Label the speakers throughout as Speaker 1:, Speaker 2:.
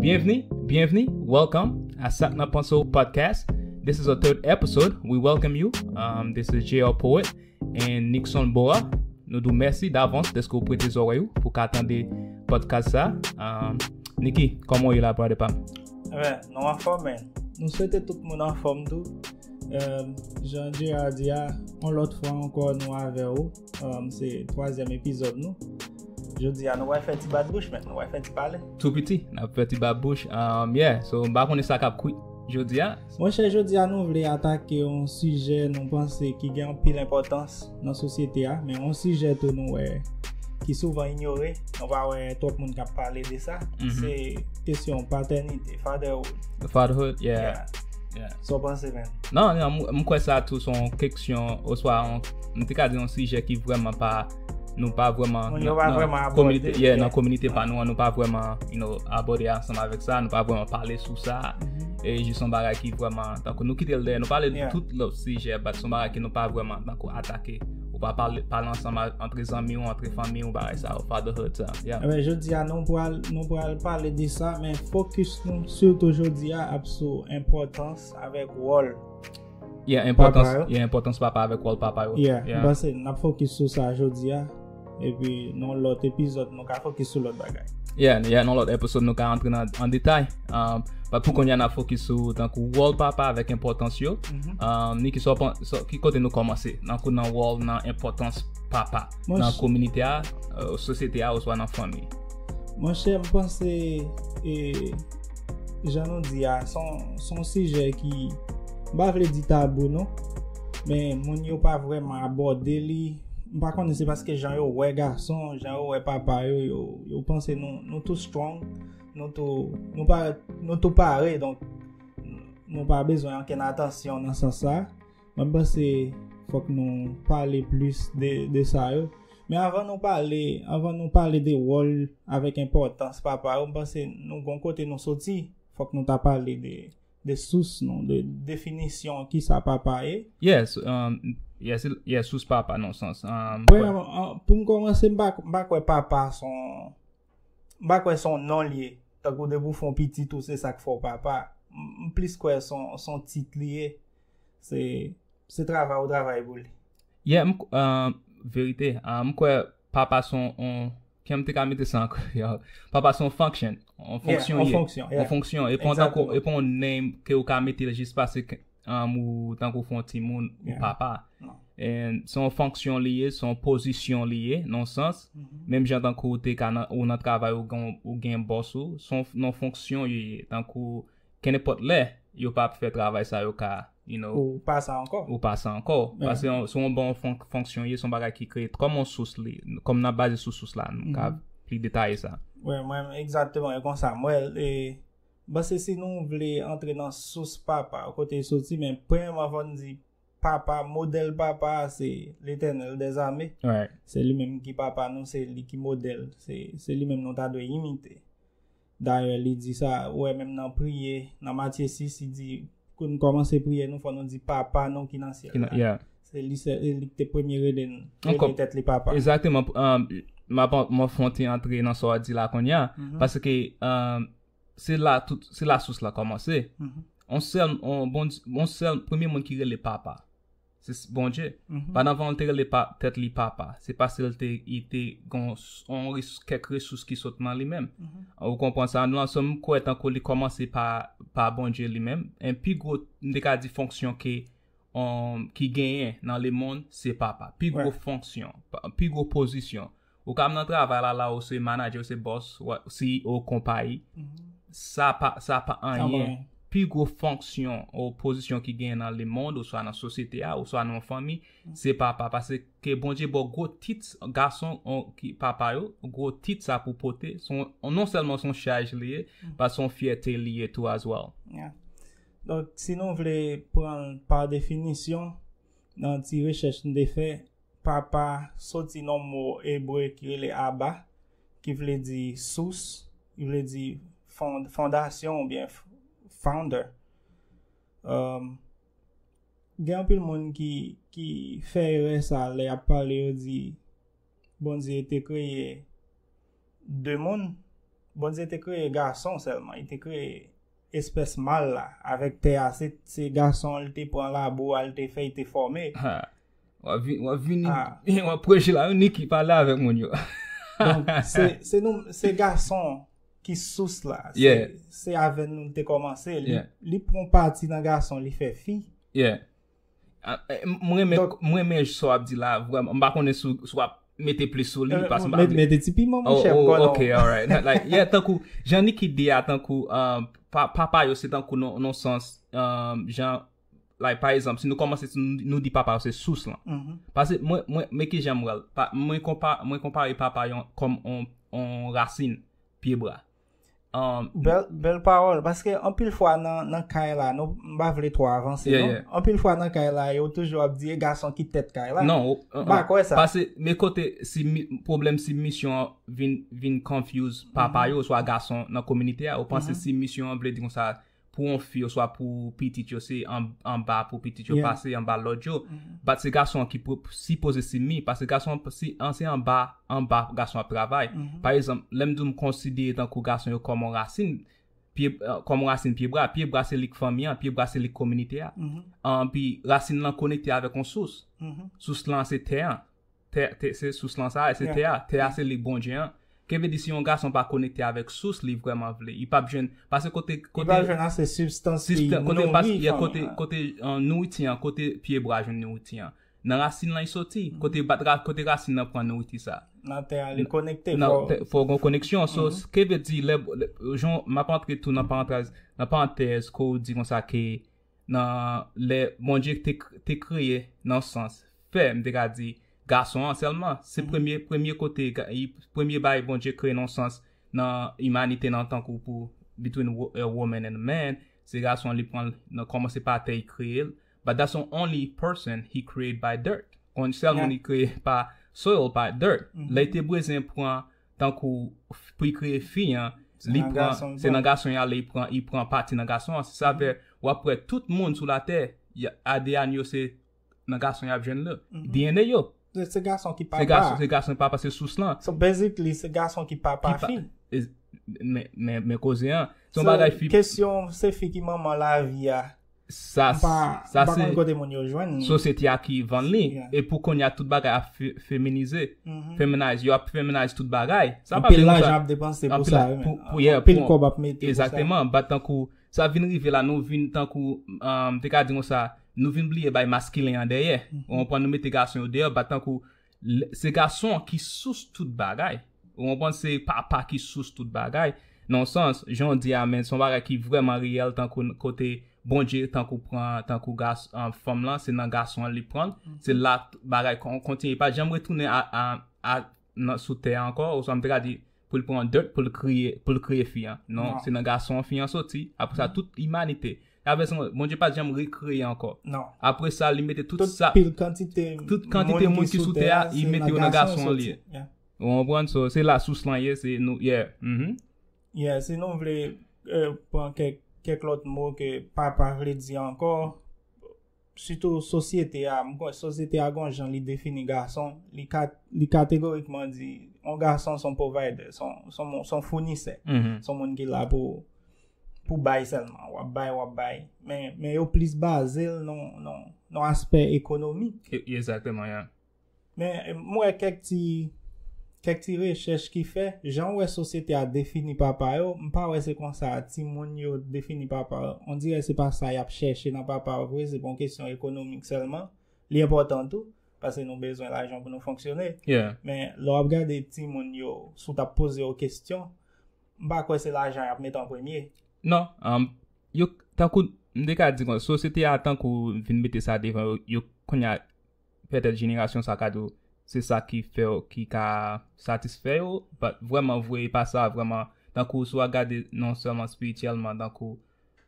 Speaker 1: Bienveni, bienveni, welcome a Sak Nan Panse Ou Podcast. This is our third episode. We welcome you. Um, this is JR Poet and Nixon Boa. Nou dou mèsi davans deske ou prete zorey ou pou ka tande podcast sa. Um, Niki, koman ou yè la prade pam? Mwen, nou an
Speaker 2: fòm men. Nou swete tout moun an fòm tou. Um, Jean-Gérard Dia, on lòt fwa ankò nou avè ou. Um, se twazyèm epizòd nou. Jodi a nou wè fè ti bat bouch men, nou wè fè ti pale. Tou piti, nan fè
Speaker 1: ti bat bouch. Um, yeah, so mba konen sa kap kwit jodi a. Mwen chè jodi a nou
Speaker 2: vle atake yon sijè nou panse ki gen anpil enpòtans nan sosyete a, men yon sijè tou nou wè ki souvan inyore, nou pa wè twòp moun kap pale de sa, mm -hmm. se kesyon paternite, fatherhood. Fatherhood,
Speaker 1: yeah. yeah. yeah.
Speaker 2: Sa w panse menm? Nan, nan, m kwè
Speaker 1: sa tou son keksyon oswa m te ka di yon sijè ki vrèman pa nou pa vrèman Moun yo pa vrèman abòde. Yeah, nan kominite pa nou an, nou pa vrèman you know abòde ansanm avèk sa, nou pa vrèman pale sou sa. E jis yon bagay ki vrèman tankou nou kite l dèyè, nou pale de tout lòt sijè bat son bagay ke nou pa vrèman tankou atake. Ou pa pale ansanm antre zanmi ou, antre fanmi ou, bagay sa ou, fatherhood sa. Emen, eh jodi a nou
Speaker 2: pral, nou pral pale de sa, men fokus nou, surtout jodi a, ap sou importans avèk wòl. Yeah, importans, yeah,
Speaker 1: importans papa avèk wòl papa yo. Yeah, mwen se, nap
Speaker 2: fokus sou sa jodi a, epi nou lòt epizòd. Nou ka fokis sou lòt bagay. Yeah, yeah, nan lòt episode nou ka
Speaker 1: antre nan an detay. Um, but pou konya na fokis sou tankou wòl papa avèk enpòtans yo. Mhm. Um, Niki, so, pan- so, ki kote nou kòmanse? Nan kou nan wòl, nan enpòtans papa. Mwen Nan s- kominite a, euh, sosyete a, oswa nan fanmi. Mwen chè m
Speaker 2: panse e jan nou di a son son sijè ki m pa vle di tabou non men moun yo pa vreman abòde li M pa konnen se paske jan yo wè gason, jan yo wè papa yo, yo panse nou tou strong, nou tou pare, donk nou pa bezwen anken atansyon nan sans sa. Mwen panse fòk nou pale plis de sa yo. Men avan nou pale, avan nou pale de wòl avèk enpòtans papa yo, m panse nou gon kote nou soti, fòk nou ta pale de. De sous non, de definisyon ki sa papa ye. Yes,
Speaker 1: yes, sous papa nan sans. Pou
Speaker 2: m komanse, m pa kwe papa son, m pa kwe son non li ye. Tan kou de pou fon piti tou se sak fon papa. M plis kwe son tit li ye. Se travay ou travay pou li. Ye,
Speaker 1: verite, m kwe papa son on. Kijan m te ka mete sa ankò yo? Papa se yon function. Yon fonksyon. Yon fonksyon, yeah. Yon fonksyon. E pon tankou, e pon name ke ou ka mete jis pase ke ou tankou fon ti moun ou papa. And se yon fonksyon li ye, se yon pozisyon li ye, nan yon sans. Menm jan tankou ou te ka nan, ou nan travay ou gen boss ou, se yon fonksyon li ye. Tankou, Kenenpòt lè, yo pa ap fè travay sa yo ka, you know. Ou pa sa
Speaker 2: ankò. Ou pa sa ankò. Paske se yon bon
Speaker 1: fonksyon ye, se yon bagay ki kreye kòm yon sous li, kòm nan baze sou sous la, nou ka pli detaye sa. Wi, mwen menm egzakteman
Speaker 2: e konsa m wè l. E m panse si nou vle antre nan sous papa, kote l soti, men premyèman fò n di papa, modèl papa a se Letènèl dèzame. Se li menm ki papa nou, se li ki modèl, se li menm nou ta dwe imite. Dayè li di sa, ou wè menm nan priye, nan Matye 6, li di, pou nou kòmanse priye nou, fò nou di Papa nou ki nan syèl la. Yeah. Se li sèl, e li ki te premye rele n, Ankò. rele tèt li Papa. Exactement. Pou, um,
Speaker 1: m ap, m ap fè yon ti antre nan sa w ap di la kounye a. Paske, um, se la tout, se la sous la kòmanse. On sèl, on Bondye, on sèl, premye moun ki rele Papa. Se Bondye. Pandan van te rele tèt li papa, se paske l te gen kèk resous ki sot nan li menm. Ou konprann sa? Nou ansanm, m kwè tankou li kòmanse pa Bondye li menm. E pi gwo, m te ka di fonksyon ke ki genyen nan lemonn, se papa. Pi gwo fonksyon, pi gwo pozisyon. Ou ka nan travay la la ou se manager ou se boss CEO konpayi sa pa sa pa anyen pi gwo fonksyon ou pozisyon ki gen nan le mond ou swa nan sosyete a ou swa nan yon fanmi se papa pase ke Bondye baw gwo tit gason ki papa yo gwo tit sa pou pote son non sèlman son chaj li ye ba son fyète li ye tou as well. Yeah. Donk
Speaker 2: si nou vle pranl pa definisyon nan ti rechèch m te fè Papa soti nan mo ebre ki rele Abba, ki vle di sous, ki vle di fondasyon oubyen founder. Gen anpil moun ki fè erè sa lè y ap pale yo di Bondye te kreye de moun, Bondye te kreye gason sèlman, li te kreye espès mal la avèk tè a, se gason li te pran labou a li te fè li te fòme.
Speaker 1: Wap vini Wap preche la yon niki pale avèk moun yo
Speaker 2: Se gason Ki sous la Se avè nou te komanse Li pran pati nan gason li fè fi
Speaker 1: Mwen men sou ap di la Mwen pa konnen sou ap Mete pli sou li Mete ti pi mwen mwen chèm
Speaker 2: konnen Ok alright
Speaker 1: Jan niki di a tankou Papa yo se tankou non sens Jan Like pa ezanp si nou komanse si nou di papa yo se sous lan. Pase mwen mwen men ki jan m wè l. Mwen konpa mwen konpare papa yon kòm on on rasin pye bra. Bèl
Speaker 2: bèl pawòl paske anpil fwa nan nan kay la nou m pa vle twò avanse non. Anpil fwa nan kay la yo toujou ap di e gason ki tèt kay la. Non. M pa kwè sa.
Speaker 1: Pase
Speaker 2: men kote
Speaker 1: si pwoblèm si misyon an vin vin confuse papa yo oswa gason nan kominite a ou panse si misyon an vle di konsa pou yon fi oswa pou pitit yo se anba pou pitit yo pase anba lòd yo bat se gason an ki sipoze simi pase gason an se anba anba pou gason ap travay pa ezanp lè m di w m konsidere tankou gason yo kòm yon rasin kòm yon rasin pye bwa pye bwa se lik fanmi an pye bwa se lik kominite a anpi rasin lan konekte avèk yon sous sous lan se tè an Tè, tè, se sous lan sa a, se tè a, tè a se li Bondye an. Ke vle di si yon gason pa konekte avèk sous li vrèman vle, li pap jwenn, pase kote, kote. Li pap jwenn ase
Speaker 2: sibstans ki nouri fanmi an. Kote, kote,
Speaker 1: kote, kote nouriti an, kote pye bwa jwenn nouriti an. Nan rasin lan li soti, kote bat, kote rasin lan pran nouriti sa. Nan tè a li konekte.
Speaker 2: Nan tè, fò gon koneksyon.
Speaker 1: So, ke vle di lè, jan, map antre tou nan parantèz, nan parantèz ke w di konsa ke Nan lè Bondye te kreye nan sans fè, m te ka di, gason an sèlman, se premye premye kote premye bagay Bondye kreye nan sans nan imanite nan tankou pou between a woman and a man se gason an li pran nan kòmanse pa tè li kreye l but that's the only person he create by dirt on sèl moun li kreye pa soil pa dirt lè li te bwezyen pran tankou pou li kreye fi an li pran se nan gason y ale li pran pati nan gason an sa fè w ap wè tout moun sou latè ADN yo se nan gason y ap jwenn li DNA yo
Speaker 2: se gason ki papa se sous
Speaker 1: lan so basically se
Speaker 2: gason ki papa fi
Speaker 1: men koze an kesyon se fi ki
Speaker 2: manman lavi a
Speaker 1: Sa se
Speaker 2: sosyete a ki vann
Speaker 1: li. E pou kounye a tout bagay ap feminize. Feminize. Yo ap feminize tout bagay. Anpil lajan ap
Speaker 2: depanse pou sa. Anpil kob
Speaker 1: ap mete pou sa. Exactement. Bat tankou sa vin rive la nou vin tankou m te ka di konsa nou vin bliye bay maskilen an dèyè. Ou konprann nou mete gason yo deyò bat tankou. Se gason ki sous tout bagay. Ou konprann se papa ki sous tout bagay. Nan yon sans, jan w di a men se yon bagay ki vrèman reyèl tankou kote Bondye tankou pran tankou fanm lan se nan gason an li pran l. Se la bagay kontinye pa janm retounen a sou tè a ankò oswa m te ka di pou l pran dirt pou l kriye pou l kreye fi an non, non. se nan gason an fi an soti apre sa tout imanite la vè son Bondye pa janm rekreye ankò non apre sa li
Speaker 2: mete tout,
Speaker 1: tout sa pil kantite tout
Speaker 2: kantite moun ki
Speaker 1: sou tè a li mete yo nan gason an li ou anprann so se la sous lan ye se nou yeah mm -hmm.
Speaker 2: yeah si nou vle euh, pran kèk kèk lòt mo ke papa vle di ankò Sitou sosyete a, m kwè sosyete a gen yon jan li defini gason, li kategorikman di yon gason son provider, son founisè, son moun ki la pou pou bay sèlman, w ap bay, w ap bay, men yo plis baze l nan aspè ekonomik. Exactement, yeah.
Speaker 1: Men,
Speaker 2: m wè kèk ti, kèk ti rechèch ki fè, jan ou wè sosyete a defini papa yo, m pa wè se konsa timoun yo defini papa yo. On dirè se pa sa y ap chèche nan papa yo vre, se pa yon kesyon ekonomik sèlman. Li enpòtan tou, pase nou bezwen lajan pou nou fonksyone. Men, lè w ap gade timoun yo, si w t ap poze yo kesyon, m pa kwè se lajan y ap met an premye. Non.
Speaker 1: Yo, tankou, m te ka di kon, sosyete a tankou vin mete sa devan yo, yo kounye a, Pètèt jenerasyon sa ka di w se sa ki fè w ki ka satisfè yo but vrèman vre e pa sa vrèman tankou si w a gade non sèlman spirityèlman tankou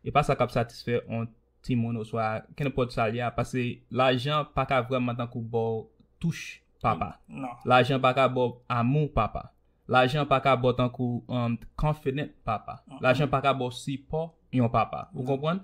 Speaker 1: e pa sa k ap satisfè yon timoun oswa kenenpòt sa l ye a pase lajan pa ka vrèman tankou ba w touch papa lajan pa
Speaker 2: ka ba w
Speaker 1: amou papa lajan pa ka ba w tankou confident papa lajan pa ka ba w sipò yon papa ou konprann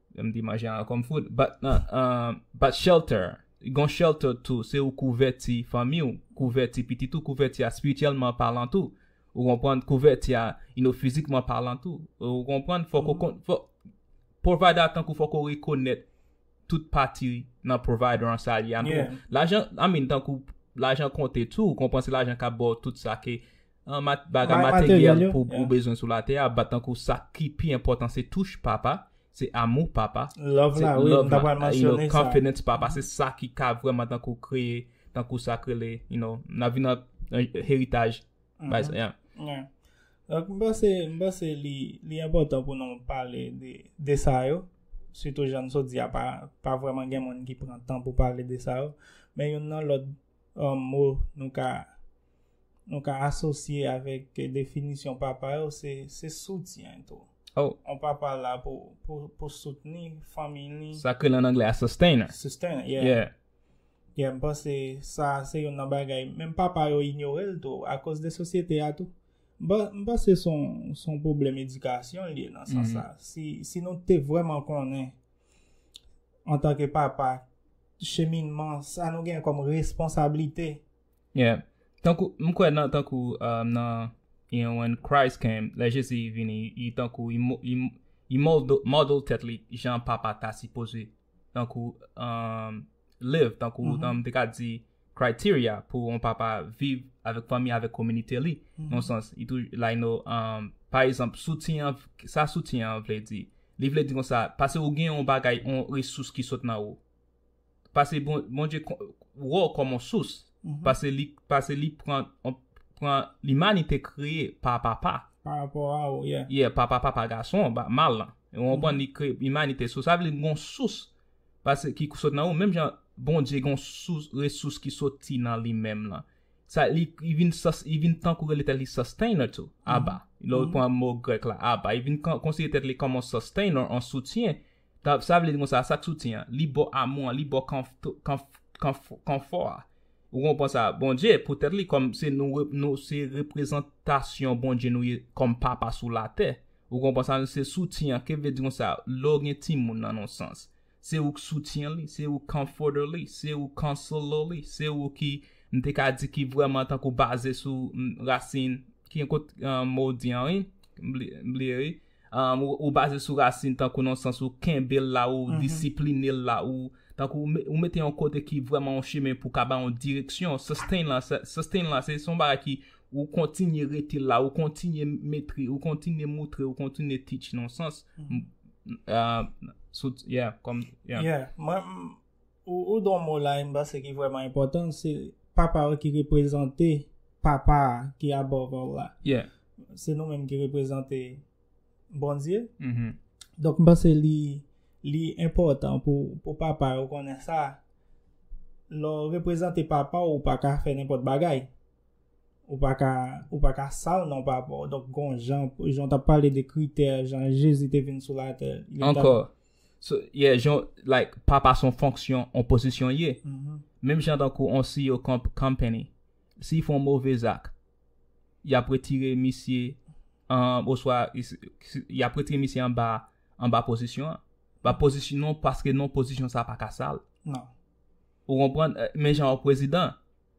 Speaker 1: M di manje an kòm fout. Bat nan, bat shelter. Gon shelter tou, se ou kouvèti fanmi ou, kouvèti pitit ou, kouvèti a spirityèlman palan tou. Ou konprann? Kouvèti a, you know, fizikman palan tou. Ou konprann? Fòk ou kon, fòk, provider tankou fòk ou rekonèt tout pati nan provider an sa li a tou. Lajan, I mean, tankou lajan konte tou, ou konprann se lajan kap baw tout sa ke Bagay materyèl pou bezwen sou latè a bat tankou sa ki pi enpòtan se touch papa, se amou papa, love
Speaker 2: la, confidence papa, se sa
Speaker 1: ki ka vreman tankou kreye, tankou sa k rele, you know, nan vi nan heritaj.
Speaker 2: Mba se li enpòtan pou nou pale de sa yo, sitou jan sou di a pa vreman gen moun ki pran tan pou pale de sa yo, men yon nan lòt mou nou ka. nou ka asosye avèk definisyon papa yo se se soutyen tou. Oh. On papa
Speaker 1: la pou
Speaker 2: pou pou soutni fanmi li. Sa ke lan anglè a
Speaker 1: sustainer. Sustainer, yeah.
Speaker 2: Yeah. Yeah, m panse sa se yon nan bagay menm papa yo inyore l tou akoz de sosyete a tou. M panse son son pwoblèm edikasyon l ye nan sans sa. Si si nou te vrèman konnen antanke papa cheminman sa nou gen kòm responsablite Yeah.
Speaker 1: Tankou m kwè nan tankou um, nan you know when Christ came, lè Jezi vini, li tankou li mo- li li moldo- model tèt li jan papa ta sipoze tankou um, live, tankou um, te ka di criteria pou on papa viv avèk fanmi, avèk kominite li. Non sans, li tou like no um, pa egzanp soutyen an, sa soutyen an vle di? Li vle di konsa, pase ou gen on bagay, on resous ki sot nan ou. Pase Bondye wè-w kòm on sous, pase li, pase li pran, pran limanite kreye pa papa. Pa rapò a-w,
Speaker 2: yeah. Yeah, pa papa, pa
Speaker 1: gason, pa mal lan. Ou konprann, li kreye limanite. So sa vle di gon sous pase ki sot nan ou, menm jan Bondye gon sous, resous ki soti nan li menm lan. Sa li, li vin sus, li vin tankou rele tèt li sustainer tou, Abba. Lè-w pran mo grèk la, Abba, li vin konsidere tèt li kòm on sustainer, on soutyen. Sa vle di konsa, sa k soutyen an, li bò amou an, li bò kanfò a. Ou konpran sa? Bondye, poutèt li kòm se nou se reprezantasyon Bondye nou ye kòm papa sou latè. Ou konpran sa? Nou se soutyen an. Ke vle di konsa? Lè w gen timoun nan yon sans, se ou k soutyen li, se ou k comforter li, se ou k counselor li, se ou ki, m te ka di ki vrèman tankou baze sou rasin, ki kot mo w di an wi? M bliye wi. Ou baze sou rasin tankou nan sans ou kenbe l la, ou disipline l la, ou tankou ou mete yon kote ki vreman yon chemen pou ka ba yon direksyon, sustain la, sustain la se yon bagay ki ou kontinye rete la, ou kontinye metre, ou kontinye moutre, ou kontinye teach nan yon sans, sou, yeah,
Speaker 2: kòm, yeah. Yeah, mwen. Ou di yon mo la m panse ki vrèman enpòtan, se Papa a ki reprezante Papa a ki above all la. Se nou menm ki reprezante Bondye. Donk m panse li enpòtan pou papa yo konnen sa. Lè w reprezante papa w, ou pa ka fè nenpòt bagay. Ou pa ka, ou pa ka sal non papa w. Donk gon jan, jan w t ap pale de kritè, jan Jezi te vin sou latè. Ankò.
Speaker 1: So yeah jan like papa son fonksyon on pozisyon ye. Menm jan tankou on CEO kon company. Si y fon move zak y ap retire misye an oswa y ap retire misye anba anba pozisyon an. Ba pozisyon non paske non pozisyon sa pa ka sal.
Speaker 2: Ou konprann?
Speaker 1: Menm jan on prezidan.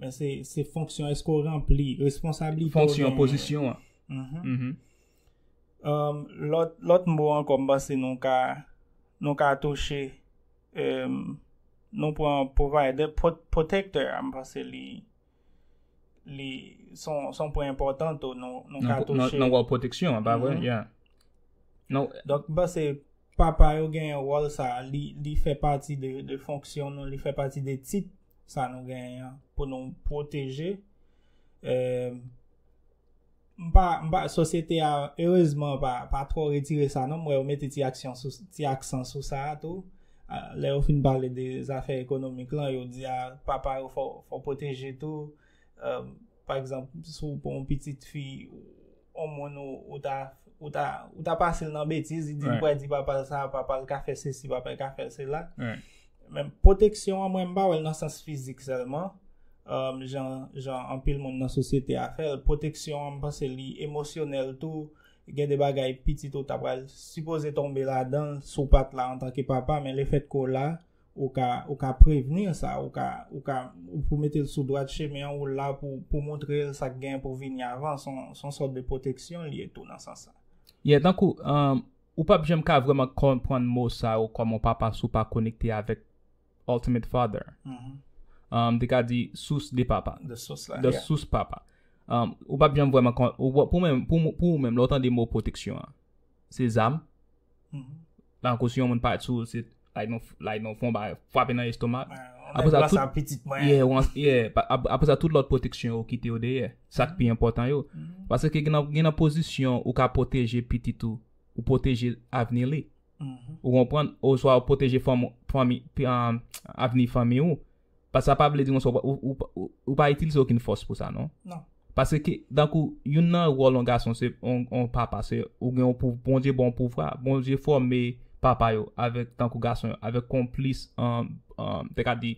Speaker 2: Men se fonksyon eske ou ranpli responsabilite ou gen. Fonksyon pozisyon
Speaker 1: an.
Speaker 2: Lòt mbo an kòm ba se nou ka nou ka touche nou pran provider protector an ba se li li son pwen important ou nou ka touche. Nan wòl proteksyon an ba
Speaker 1: vre ya. Donk ba se
Speaker 2: papa yo gen yon wòl sa li fè pati de fonksyon nou li fè pati de tit. sa nou genyen an pou nou pwoteje eee sosyete a erezman pa tro retire sa non mwen yo mete ti aksyon ti aksan sou sa a tou lè yo fin pale de zafè ekonomik lan yo di a papa yo fò pwoteje tou eee pa egzanp sou pou yon pitit fi on moun ou ta, ou ta, ou ta pase l nan betiz, li di li pral di papa l sa, papa l ka fè sesi, papa l ka fè sela. Men, pwoteksyon an mwen m pa wè l nan sans fizik sèlman, euh, jan, jan anpil moun nan sosyete a fè l. Pwoteksyon an m panse li emosyonèl tou. Gen de bagay pitit ou ta pral sipoze tonbe ladan l si w pa t la antanke papa, men lefètke w la, Ou ka, ou ka prevenir sa, ou ka, ou ka, ou pou mete l sou dwat chemen an, ou la pou, pou montre l sa k genyen pou vini avan, s on, s on sòt de pwoteksyon l ye tou nan sans sa. Yeah, tankou, um,
Speaker 1: ou pap janm ka vrèman konprann mo sa yo kòm on papa si w pa konekte avèk Ultimate Father. Mm-hmm. Um, m te ka di sous de papa. De sous la, yeah. De sous papa. Um, ou pap janm vrèman kon, pou mwen, pou, pou ou menm, lè w tande mo pwoteksyon an. se zam. Tankou si yon moun pale sou ou se like yon fon ba fwape nan estomak. Apre sa tout pitit mwen. Yeah, apre sa tout lòt pwoteksyon ou kite yo dèyè. Sa ki pi enpòtan yo. Pase ke gen nan pozisyon ou ka pwoteje pitit ou, ou pwoteje avni li. Ou konprann? Ou swa ou pwoteje fanmi, avni fanmi ou. Pas sa pa vle di konsa ou pa itilize okenn fòs pou sa non. Non. Pase ke, dankou, youn nan wòl yon gason se, yon papa se, ou gen yon pou, Bondye ba w yon pouvwa, Bondye fòme papa yo avèk, tankou gason yo, avèk yon plis, te ka di,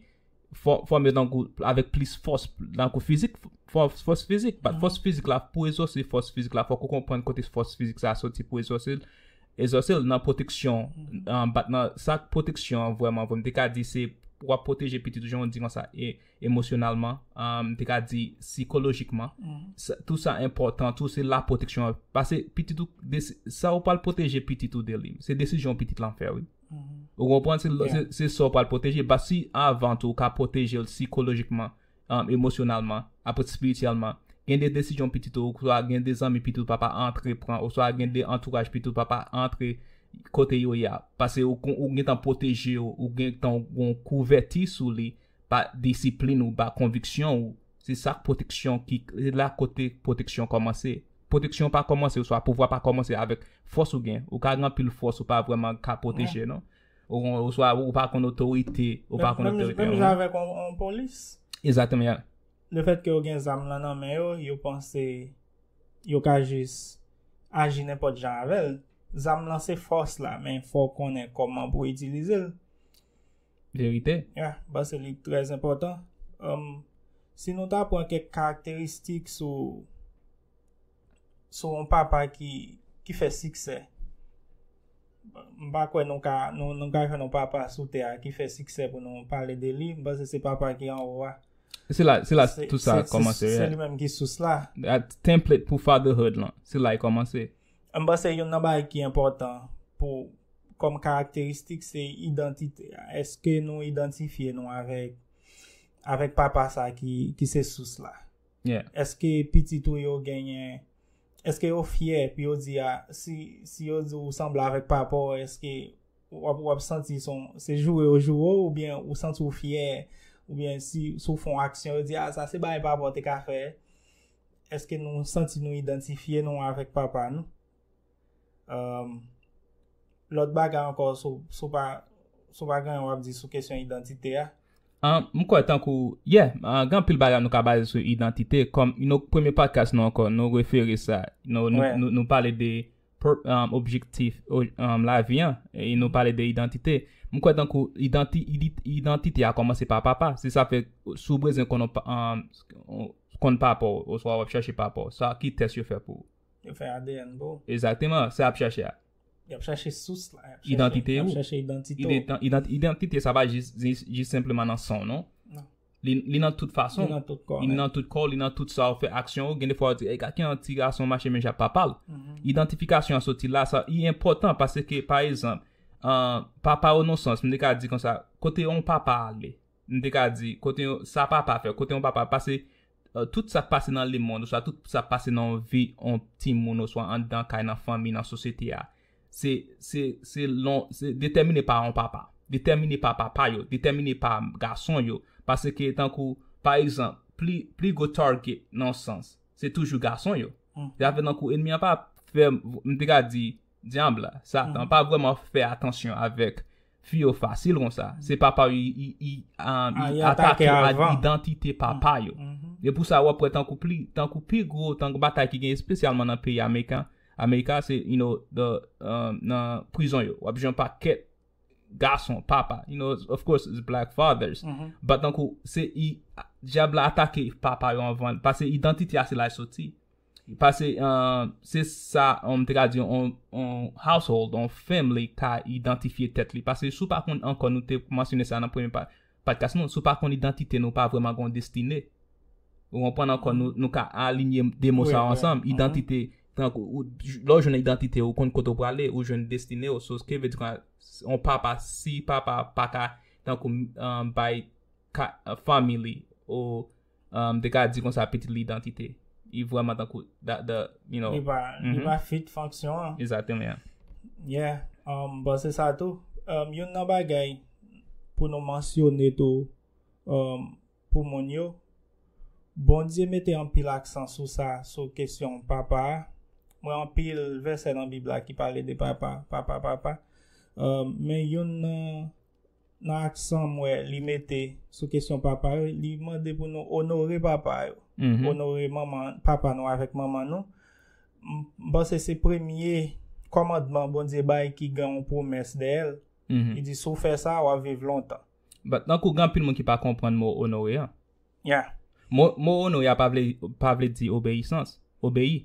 Speaker 1: fòme tankou, avèk plis fòs, tankou fizik, fòs fizik, bat fòs fizik la, pou egzose fòs fizik la, fòk ou konprann kote fòs fizik sa a soti pou egzose l, Exauce l nan pwoteksyon an bat nan sa pwoteksyon an vrèman vre m te ka di se w ap pwoteje pitit ou jan w di konsa emosyonalman m te ka di sikolojikman tou sa enpòtan tou se la pwoteksyon an pase pitit ou sa w pral pwoteje pitit ou de li se desizyon pitit lan fè wi ou konprann se sa w pral pwoteje basi avan tou w ka pwoteje l sikolojikman emosyonalman, aprè spirityèlman, gen de desizyon pitit ou oswa gen de zanmi pitit ou papa antre pran oswa gen de antouraj pitit ou papa antre kote yo ye a, pase ou gentan pwoteje yo, ou gentan gon kouvèti sou li pa disiplin ou ba konviksyon ou, se sak pwoteksyon ki, se la kote pwoteksyon kòmanse. Pwoteksyon pa kòmanse oswa pouvwa pa kòmanse avèk fòs ou gen, ou ka gen anpil fòs ou pa vrèman ka pwoteje non. Ou swa ou pa konn otorite, ou pa konn otorite. Menm jan avèk yon
Speaker 2: polis. Ezateman ya.
Speaker 1: Le fèt ke yo
Speaker 2: gen zam lan nan men yo, yo panse yo ka jis aji nenpòt jan avèl. Zam lan se fòs la, men fò w konnen kòman pou w itilize l.
Speaker 1: Verite. Ya, ba se
Speaker 2: li trè zenpòtan. Si nou ta pran kèk karakteristik sou sou yon papa ki fè siksè. M pa kwè nou ka jwenn yon papa sou tè a ki fè siksè pou nou pale de li. M panse se papa ki anwo a. Se la
Speaker 1: tout sa kòmanse. Se li menm ki sous
Speaker 2: la. Template pou
Speaker 1: fatherhood lan. Se la li kòmanse. M panse yon nan
Speaker 2: bagay ki enpòtan pou kòm karakteristik se idantite a. Eske nou idantifye nou avèk papa sa ki se sous la? Eske pitit ou yo genyen, eske yo fyè pou yo di a, si yo di ou sanble avèk papa w, eske w ap santi son, se joure yo joure w, oubyen ou santi w fyè, oubyen si w fè yon aksyon yo di a, sa se bagay papa w te ka fè, eske nou santi nou idantifye nou avèk papa nou? Lòt bagay ankò sou pa sou pa gen yon wap di sou kesyon idantite a. M kwè
Speaker 1: tankou, ye, gen anpil bagay nou ka baze sou idantite kòm yon premye podcast nou ankò nou refere sa nou pale de objektif lavi an e nou pale de idantite. M kwè tankou idantite a kòmanse pa papa se sa fè sou bezwen konnen papa w oswa wap chache papa w sa ki tès yo fè pou ou? Yo fè ADN
Speaker 2: pou ou. Exactement, sa yap chache
Speaker 1: a. Yap chache
Speaker 2: sous la. Identité ou. Yap chache identité ou. Identité
Speaker 1: sa pa jis, jis senpleman nan san w non. Non. Li nan tout fason. Li nan tout kò w. Li nan tout kò w, li nan tout sa w fè, aksyon ou. Gen de fwa ou di, e gade ki yon ti gason mache menm jan ak papa l. Identification an soti la, sa li enpòtan paske pa ezanp, papa ou nan yon sans, m te ka di konsa, kote yon papa ale? M te ka di, kote yon, sa papa fè, kote yon papa pase. Tout sa k pase nan lemonn oswa tout sa k pase nan vi yon timoun oswa anndan kay, nan fanmi, nan sosyete a, se detèmine pa yon papa, detèmine pa papa yo, detèmine pa gason yo. Paske tankou, pa egzanp, pli gwo target nan yon sans, se toujou gason yo. Se ta vle tankou enmi an pa fè, m te ka di, Dyab la, Satan, pa vrèman fè atansyon avèk fi yo fasil konsa. Se papa yo li atake ak idantite papa yo. E pou sa wap wè tankou pi gwo tank batay ki gen espesyalman nan peyi Amerika, Amerika se you know the nan prizon yo. Wap jwenn yon pakèt gason papa, you know of course it's black fathers, but tankou se Dyab la atake papa yo anvan, pase idantite a se la li soti. Pase, se sa m te ka di yon household, yon family ka idantifye tèt li. Pase si w pa konn ankò, nou te mansyone sa nan premye padkas nou, si w pa konn idantite nou, pa vrèman gen yon destine. Ou konprann ankò, nou ka alinye de mo sa yo ansanm, idantite, lè w jwenn idantite ou, ou konn kote w prale, ou jwenn destine ou. So, ske vle di kwa, yon papa, si papa pa ka, tankou bay family li, ou. M te ka di konsa pitit lidantite. Li vreman tankou that the, you know. Li pa, li pa
Speaker 2: fit fonksyon an. Exactement ya.
Speaker 1: Yeah,
Speaker 2: m panse sa tou. Youn nan bagay pou nou mansyone tou pou moun yo, Bondye mete anpil aksan sou sa, sou kesyon papa a. Mwen anpil vèsè nan Bib la ki pale de papa, papa, papa. Men youn nan. nan aksan m wè li mete sou kesyon papa yo, li mande pou nou onore papa yo, onore papa nou avèk manman nou. M panse se premye kòmandman Bondye bay ki gen yon pwomès dèyè l. Li di, si w fè sa, w ap viv lontan. But, nan kou gen
Speaker 1: anpil moun ki pa konprann mo onore an. Yeah.
Speaker 2: Mo
Speaker 1: onore a pa vle di obeyisans, obeyi.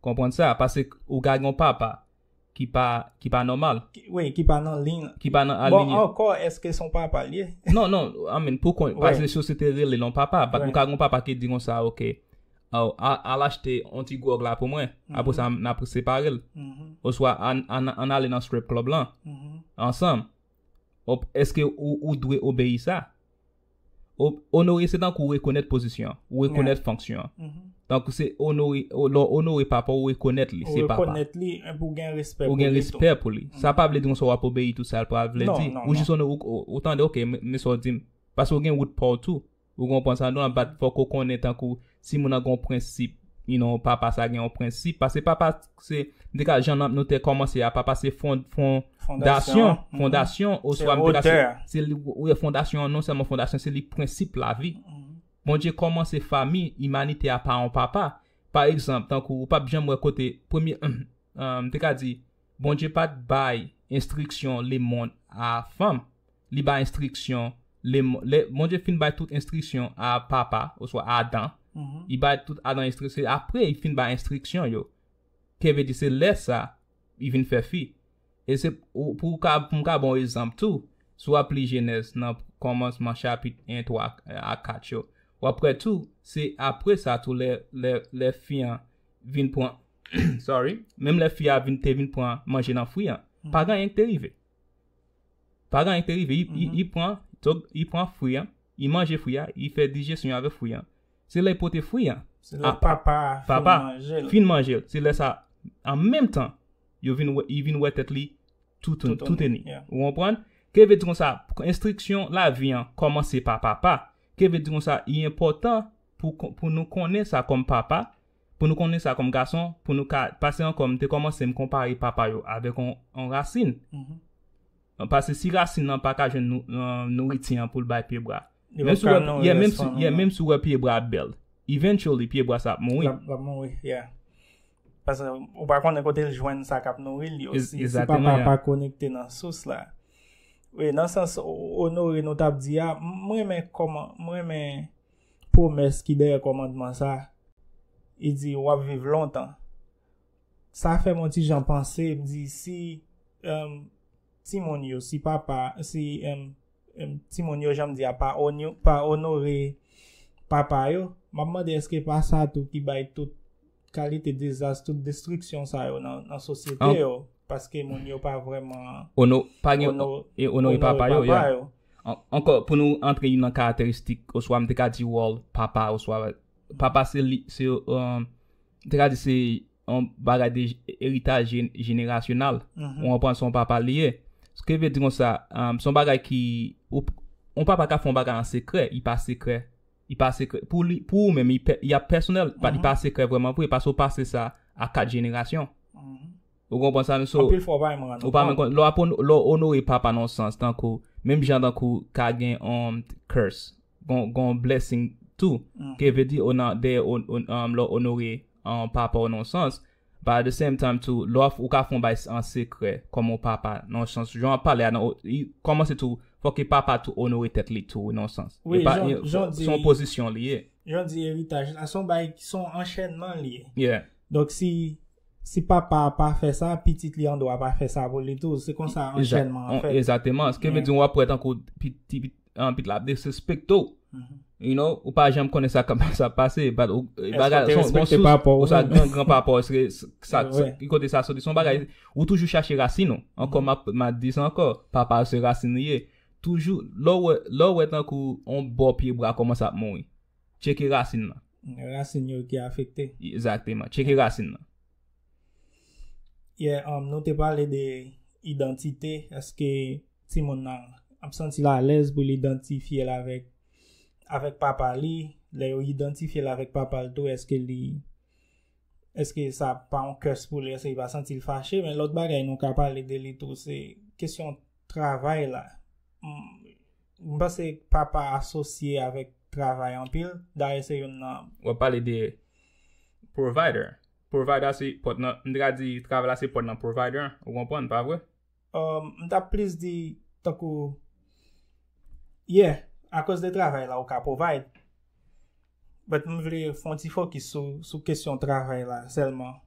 Speaker 1: Konprann sa? Pase ou ka gen yon papa. Ki pa, ki pa nòmal. Ki, wi, ki pa nan
Speaker 2: liy. Ki pa nan alinye. Bon, ankò,
Speaker 1: èske se
Speaker 2: yon papa l ye? Non, non, I mean,
Speaker 1: pou kont, paske sosyete rele l yon papa, bat ou ka gen yon papa ki di konsa, ok, oh, al achte yon ti gwòg la pou mwen, apre sa n ap separe l. Oswa ann ale nan strip club lan, ansanm. Èske ou dwe obeyi sa? Onore se tankou rekonèt pozisyon, ou rekonèt fonksyon an. Tankou se onore, lè w onore papa w, ou rekonèt li se papa. Ou rekonèt li, enpi ou gen
Speaker 2: respè pou li tou. Ou gen respè pou li.
Speaker 1: Sa pa vle di konsa w ap obeyi tout sa l pa vle di. Ou jis onore, ou tande ok, men sa w di m. Paske ou gen wout pa w tou. Ou konprann sa m di w la? Bat fòk ou konnen tankou Timoun nan gen yon prensip you know papa sa gen yon prensip pase papa se m te ka jan nan nou te kòmanse a papa se fon fon dasyon mm-hmm. fondasyon oswa m te ka se li ou e fondasyon non sèlman fondasyon se li prensip lavi mm-hmm. Bondye kòmanse fami imanite a pa an papa pa egzanp tankou ou pap janm wè kote premye m te ka di Bondye pat bay enstriksyon lemond a fanm li bay enstriksyon lè Bondye fin bay tout enstriksyon a papa oswa Adan li bay tout Adan enstriksyon apre li fin bay enstriksyon yo kivedi se lè sa li vin fè fi e se pou ou ka pou m ka ba w ezanp tou si w ap li jenèz nan kòmansman chapit 1 3 a 4 yo w ap wè tou se apre sa tou lè fi an vin pran Sorry, menm lè fi a vin te vin pran manje nan fwi an, pa gen anyen ki te rive. Pa gen anyen ki te rive, i pran, dok, i pran fwi an, i manje fwi a, i fè dijesyon yo avèk fwi an. Se lè i pote fwi an, se lè
Speaker 2: papa a fin
Speaker 1: manje l, se lè sa an menm tan yo vin wè, i vin wè tèt li toutouni. Ou konprann? Ke vle di konsa, enstriksyon lavi an kòmanse pa papa. Ke vle di konsa, i enpòtan pou nou konnen sa kòm papa, Pou nou konnen sa kòm gason, pou nou ka pase ankò m te kòmanse m konpare papa yo avèk yon rasin. Pase si rasin nan pa ka jwenn nouriti an pou l bay pyebwa. Menm si w wè pyebwa ap bèl. Yeah, menm si w wè pyebwa ap bèl. Eventually pyebwa sa ap mouri. L ap mouri, yeah.
Speaker 2: Pase ou pa konnen kote l jwenn sa k ap nouri l yo. Exactement. Si papa a pa konekte nan sous la. Nan sans onore nou t ap di a, m renmen kòman, m renmen. pwomès ki dèyè kòmandman sa a, li di, W ap viv lontan. Sa fè m yon ti jan panse, m di, si timoun yo, si papa, si timoun yo, jan m di a, pa onore papa yo, m ap mande èske pa sa tou ki bay tout kalite dezas, tout destriksyon sa yo nan sosyete yo, paske moun yo pa vreman
Speaker 1: onore papa yo. Anko, pou nou antre yon nan karakteristik, oswa m te ka di wòl papa, oswa papa se li, m te ka di se yon bagay de eritaj jenerasyonal, ou anpon son papa li ye. Se ke ve di kon sa, son bagay ki, ou papa ka fon bagay an sekrè, yi pa sekrè. Li pa sekrè. Pou li, pou ou menm, li ap pèsonèl. Bat li pa sekrè vreman vre. Pase ou pase sa a 4 jenerasyon. Ou konprann sa menm? So. Anpil fwa ou pa menm rann ou kont. Ou pa menm konn. Lè w ap onore, lè w onore papa nan yon sans, tankou, menm jan tankou ka gen yon curse. Gon, gon yon blessing tou. Ke vle di ou nan, dèyè ou, ou, lè w onore papa ou nan yon sans, But at the same time tou lè wap ou ka fon bay an sekrè kòm on papa nan yon sans jan wap pale a nan li kòmanse tou fò ke papa tou onore tèt li tou wi nan yon sans wi jan di
Speaker 2: son pozisyon
Speaker 1: li ye jan di eritaj
Speaker 2: la son bay son anchènman li ye donk si si papa a pa fè sa pitit li andwa pa fè sa pou li tou se konsa anchènman an fèt ezateman ske vle di wap
Speaker 1: wè tankou pitit anpit la ap desrespekte w. You know, ou pa janm konnen sa kap sa pase, but ou e bagay Eske w te son respekte sous papa w ou sa menm? gran gran papa w eske s- sa Mwen wè. ki kote sa soti son bagay ou toujou chache rasin ou. Ankò map ma di sa ankò, papa se rasin li ye. Toujou lè w wè lè w wè tankou on bò pye bra kòmanse ap mouri, tcheke rasin nan. Rasin yo ki
Speaker 2: afekte. Exactement, tcheke
Speaker 1: rasin nan.
Speaker 2: Yeah, um, nou te pale de idantite, eske timoun nan ap santi l alèz pou l idantifye l avèk avèk papa li, lè yo idantifye l avèk papa l tou eske li eske sa ap pa yon curse pou li, eske li pa santi l fache, men lòt bagay nou ka pale de li tou se kesyon travay la. M panse papa asosye avèk travay anpil, dayè se youn nan. Wap pale de
Speaker 1: provider. Provider se pòt nan, m te ka di travay la se pòt nan provider an, ou konprann, pa vre? M ta
Speaker 2: plis di tankou Yeah, akòz de travay la ou ka provide. But m vle fè yon ti fokis sou kesyon travay la sèlman.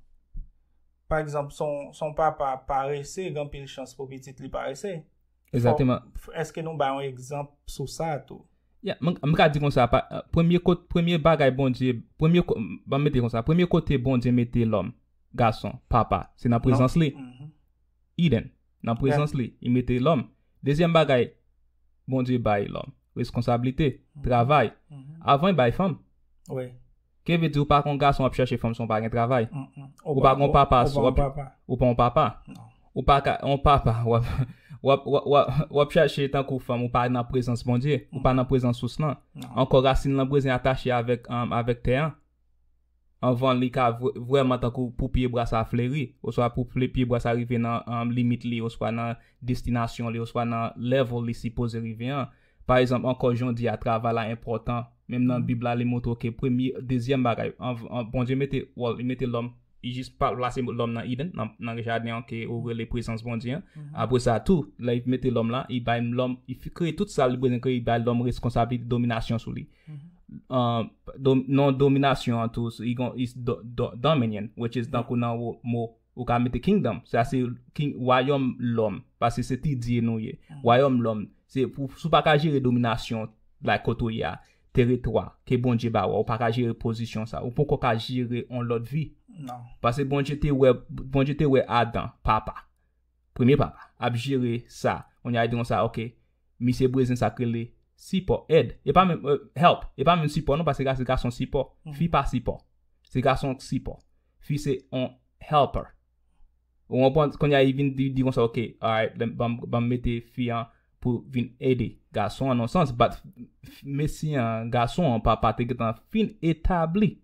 Speaker 2: Pa egzanp, si yon papa parese, gen anpil chans pou pitit li parese. Exactement.
Speaker 1: Eske nou ba yon
Speaker 2: egzanp sou sa tou? Yeah, m m ka di
Speaker 1: kon sa, pa, premye kot, premye bagay Bondye, premye, ko- m ban m mete kon sa, premye kote Bondye mete lòm, gason, papa, se nan prezans li. Mhm. Eden, nan prezans li, li mete lòm. Dezyèm bagay, Bondye bay lòm, reskonsablite, travay. Mhm. Avan, li bay fanm. Oui.
Speaker 2: Keve di ou
Speaker 1: pa kon gason ap chache fanm si w pa gen travay? Ou pa kon papa si wap ou pa yon papa? Ou pa ka yon papa wap wap wap chache tankou fanm ou pa nan prezans Bondye, ou pa nan prezans sous lan. Ankò rasin lan brezin atache avèk avèk tè an anvan li ka vrèman tankou pou pye bwa sa fleri oswa pou pye bwa sa rive nan limit li oswa nan destinasyon li oswa nan level li sipoze rive an. Pa ezanp ankò jondye a travay la enpòtan, menm nan bib la li montre w ke premye dezyèm bagay anvan Bondye mete well li mete lòm li jis pa plase lòm nan Eden nan jaden an ke ou rele prezans Bondye an apre sa tou lè li mete lòm la li bay lòm li kreye tout sa li bezwen kreye li bay lòm reskonsablite dominasyon sou li non dominasyon an tou li gon is dominion which is tankou nan mo Ou ka mete kingdom, sa se king, wayòm lòm, paske se ti dye nou ye. Wayòm lòm, se pou, si w pa ka jere dominasyon, like kote ou ye a, teritwa, ke Bondye ba ou a, ou pa ka jere pozisyon sa, ou poko ka jere on lòt vi. Non. Paske
Speaker 2: Bondye te
Speaker 1: wè, Bondye te wè Adan, papa, premye papa, ap jere sa, kounye a li di konsa, ok, misye brezin sa k rele sipò, èd, e pa menm, help, e pa menm sipò non, paske sa se gason sipò, fi pa sipò, se gason k sipò. Fi se on helper. Ou konprann? Konnya li vin di konsa ok, alright, banm mete fi an pou vin ede gason an nan yon sans, bat mesye an, gason an papa te gentan fin etabli.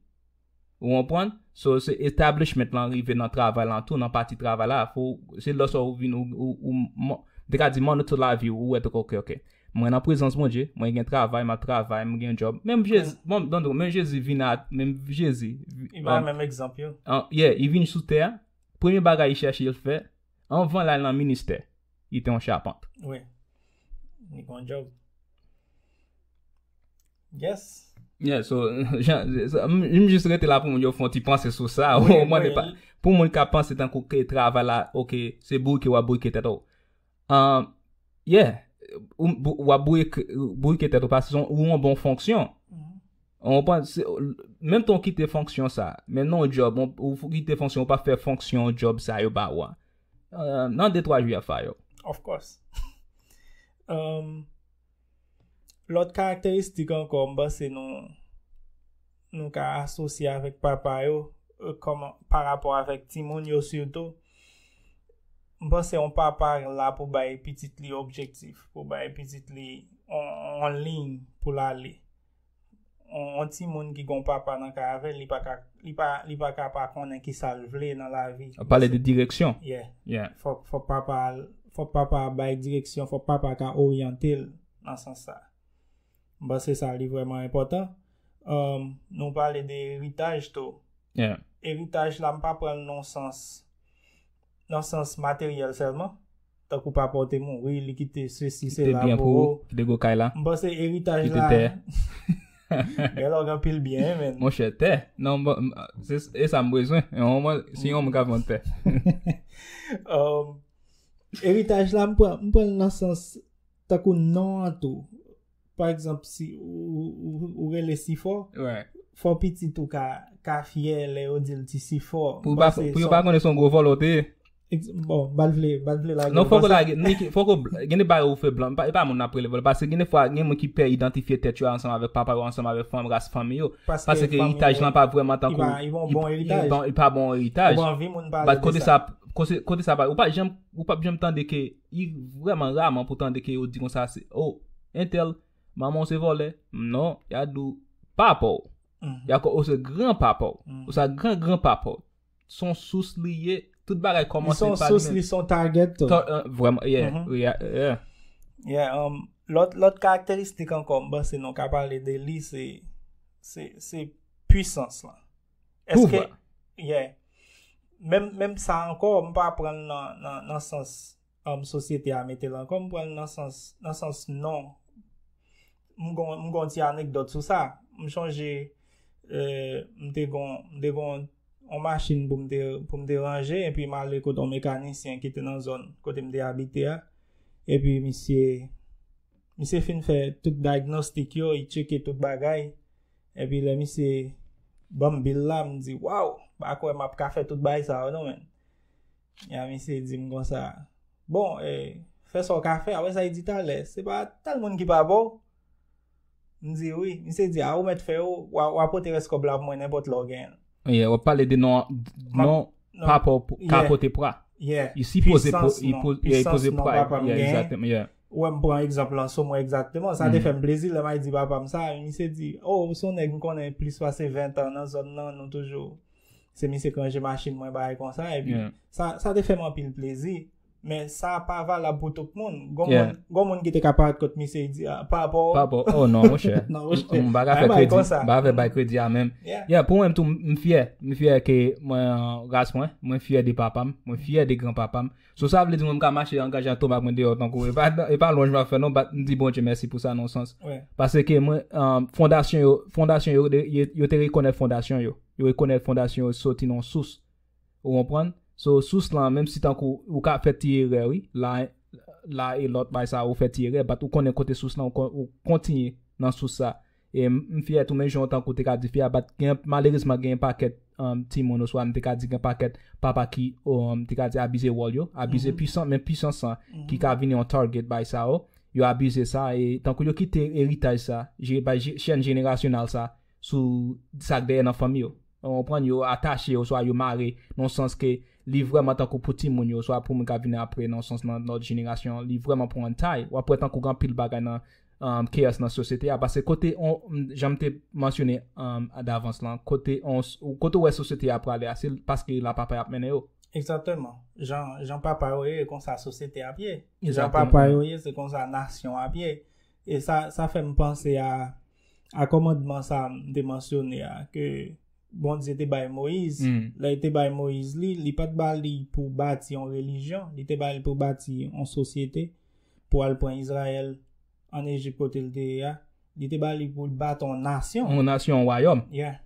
Speaker 1: Ou konprann? So se establishment lan rive nan travay lan tou, nan pati travay la, se lè sa ou vin ou, m te ka di mòn ou tout lavi ou, ou wè tou ke ok, Mwen nan prezans Bondye, mwen gen travay, map travay, mwen gen job. Menm Jezi, bon, dondon, men Jezi vin at, menm Jezi. I ba menm egzanp
Speaker 2: yo. An, ye, i vin sou
Speaker 1: tè a, premye bagay i chèche l fè, anvan l al nan ministè, li te yon chapant. Wi.
Speaker 2: Li gon
Speaker 1: job. Yes. Yeah, so, jan, m jis rete la pou moun yo fon ti panse sou sa, ou mwen ne pa, pou moun ka panse tankou ke travay la, ok, se bouke wap bouke tèt ou. Yeah, w ap bourike tèt ou paske se yon bon fonksyon. Menm tan w kite fonksyon sa, men nan yon job, ou kite fonksyon, ou pa fè fonksyon job sa yo ba ou a, nan de twa jou y ap fire ou. Of
Speaker 2: course. Lòt karakteristik ankò m panse nou nou ka asosye avèk papa yo kòm pa rapò avèk timoun yo sitou. M panse yon papa la pou bay pitit li objektif, pou bay pitit li yon liy pou l ale. On ti moun ki gon papa nan kay avèl, li pa ka, li pa, li pa ka pa konnen ki sa l vle nan lavi. Ap pale de direksyon.
Speaker 1: Yeah. Yeah. Fòk,
Speaker 2: fòk papa l, fòk papa a bay direksyon, fòk papa ka oryante l nan sans sa. M panse sa li vrèman enpòtan. Ehm, nou pale de eritaj tou. Yeah. Eritaj
Speaker 1: la m pa
Speaker 2: pran l nan on sans. nan sans materyèl sèlman. Tankou papa w te mouri, li kite sesi, sela pou ou. Kite byen pou ou, kite gwo kay
Speaker 1: la. M panse eritaj
Speaker 2: la. Kite tè. Gen lè w gen pil byen men. Mon chè, tè. Non,
Speaker 1: e sa m bezwen. Si yon moun ka vant tè.
Speaker 2: Eritaj la, m pran nan sans tankou non an tou. pa egzanp si ou rele sifò, fò pitit ou ka fyè lè yo di l ti sifò. Pou yo pa konnen
Speaker 1: se yon gwo vòlò ou te ye. Bon, ba
Speaker 2: l vle, ba l vle lage. Non, fò ko lage,
Speaker 1: fò ko, gen de bagay ou fè blan, e pa moun nan prele vòlò, paske gen de fwa gen moun ki pè idantifye tèt yo ansanm avèk papa yo, ansanm avèk fanm, ras fanmi yo. Paske eritaj lan pa vwèman tankou. Li pa yon bon eritaj.
Speaker 2: Li pa yon bon eritaj.
Speaker 1: Ou pa anvi moun pale de sa. Bat kote sa, kote sa pa, ou pa janm. Ou pap janm tande ke y vrèman raman pou tande ke yo di konsa se o entèl manman w se vòlè m non ya di w papa w ya ko o se gran papa w o sa gran gran papa w s on sous li ye tout bagay kòmanse pa li menm li s on sous li s on target
Speaker 2: tou vrèman
Speaker 1: yeah yeah um
Speaker 2: lòt lòt karakteristik ankò m panse nou ka pale de li se se se pwisans lan. Eske, ye, menm sa ankò, m pa pran nan sans anm sosyete a mete lan kòm, m pran nan sans non. M gon ti anekdot sou sa. M chanje, euh, m te gon, m te gon yon machin pou m te, pou m te ranje, epi m ale kote yon mekanisyen ki te nan zòn kote m te abite a. Epi misye, misye fin fè tout diagnostik yo, li tcheke tout bagay. Epi lè misye banm bill la m di waww m pa kwè map ka fè tout bagay sa yo non menn. Ya misye dim konsa bon e fè sa w ka fè apre sa li di talè se pa tèl moun ki pa ba w? M di wi. Misye di a ou mèt fè yo wa pote rès kòb la pou mwen nenpòt lè w genyen l. Yeah wap pale de
Speaker 1: non non papa w ka pote pra. Yeah. Li sipoze poze pra. Pwisans non. Pwisans non papa m genyen. Yeah exactement yeah. Ou wè m pran egzanp
Speaker 2: lan sou mwen egzakteman. Sa te fè m plezi lè may di papa m sa. Yon misye di, o, ou se yon nèg m konnen plis pase 20 an nan zòn nan, nou toujou. Se misye k ranje machin mwen bagay konsa. E pi, sa te fè m anpil plezi. Men sa pa valab pou tout moun. Gon moun ki te ka paret kot misye di, a, pa apò. Pa apò. O, non, mwen chè.
Speaker 1: Non, mwen chè. M baga fè kredi. M baga fè konsa. M baga fè bay kredi a menm. Yeah. Yeah, pou mwen tou, m fyè. M fyè ke mwen ras mwen. Mwen fyè de papa m. Mwen fyè de gran papa m. So sa vle di mwen m ka mache angaje ak tonba mwen deyò tankou e pa e pa lwanj m ap fè non bat m di Bondye mèsi pou sa nan yon sans paske mwen fondasyon yo fondasyon yo yo te rekonèt fondasyon yo yo rekonèt fondasyon yo soti nan yon sous ou konprann so sous lan menm si tankou ou ka fè ti erè wi la la e lòt bagay sa ou fè ti erè bat ou konnen kote sous lan ou kontinye nan sous sa. E m fyè tou men jan w tankou te ka di fi a pat gen malerezman gen yon pakèt timoun oswa m te ka di gen pakèt papa ki m te ka di abize wòl yo, abize pwisan men pwisans lan ki ka vini yon target bay sa yo, yo abize sa e tankou yo kite eritaj sa bay chèn jenerasyonal sa sou sa k dèyè nan fanmi yo. Ou konprann yo atache oswa yo mare nan yon sans ke li vrèman tankou pou timoun yo oswa pou moun k ap vini apre nan yon sans nan lòt jenerasyon li vrèman pran tay. W ap wè tankou gen anpil bagay nan chaos nan sosyete a paske kote jan m te mansyone davans lan kote ou wè sosyete a prale a se paske la papa y ap mennen yo. Egzakteman. Jan papa yo ye e konsa sosyete a ap ye. Jan papa yo ye se konsa nasyon an ap ye. E sa fè m panse a kòmandman sa m te mansyone a ke Bondye te bay Moyiz. Lè l te bay Moyiz li, li pa t ba li pou bati yon relijyon, li te ba li pou bati yon sosyete. pou al pran Izrayèl ann Ejip kote l te ye a, li te ba li pou l bati yon nasyon. Yon nasyon, yon wayòm. Yeah.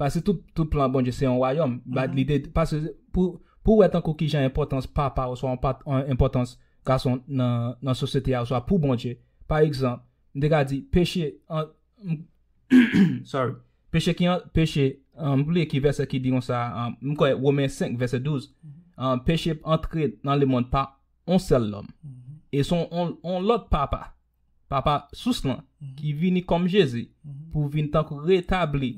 Speaker 1: Paske tout, tout plan Bondye se yon wayòm. Bat li te, paske pou, pou w wè tankou kijan enpòtans papa oswa yon pa, enpòtans gason nan, nan sosyete a oswa pou Bondye. Pa egzanp, m te ka di, peche, sorry, peche ki an, peche, m bliye ki vèsè ki di konsa, m kwè Women 5 vèsè 12, peche antre nan lemond pa. on sèl nonm, e s on on lòt Papa, Papa Sous lan, ki vini kòm Jezi pou vin tankou retabli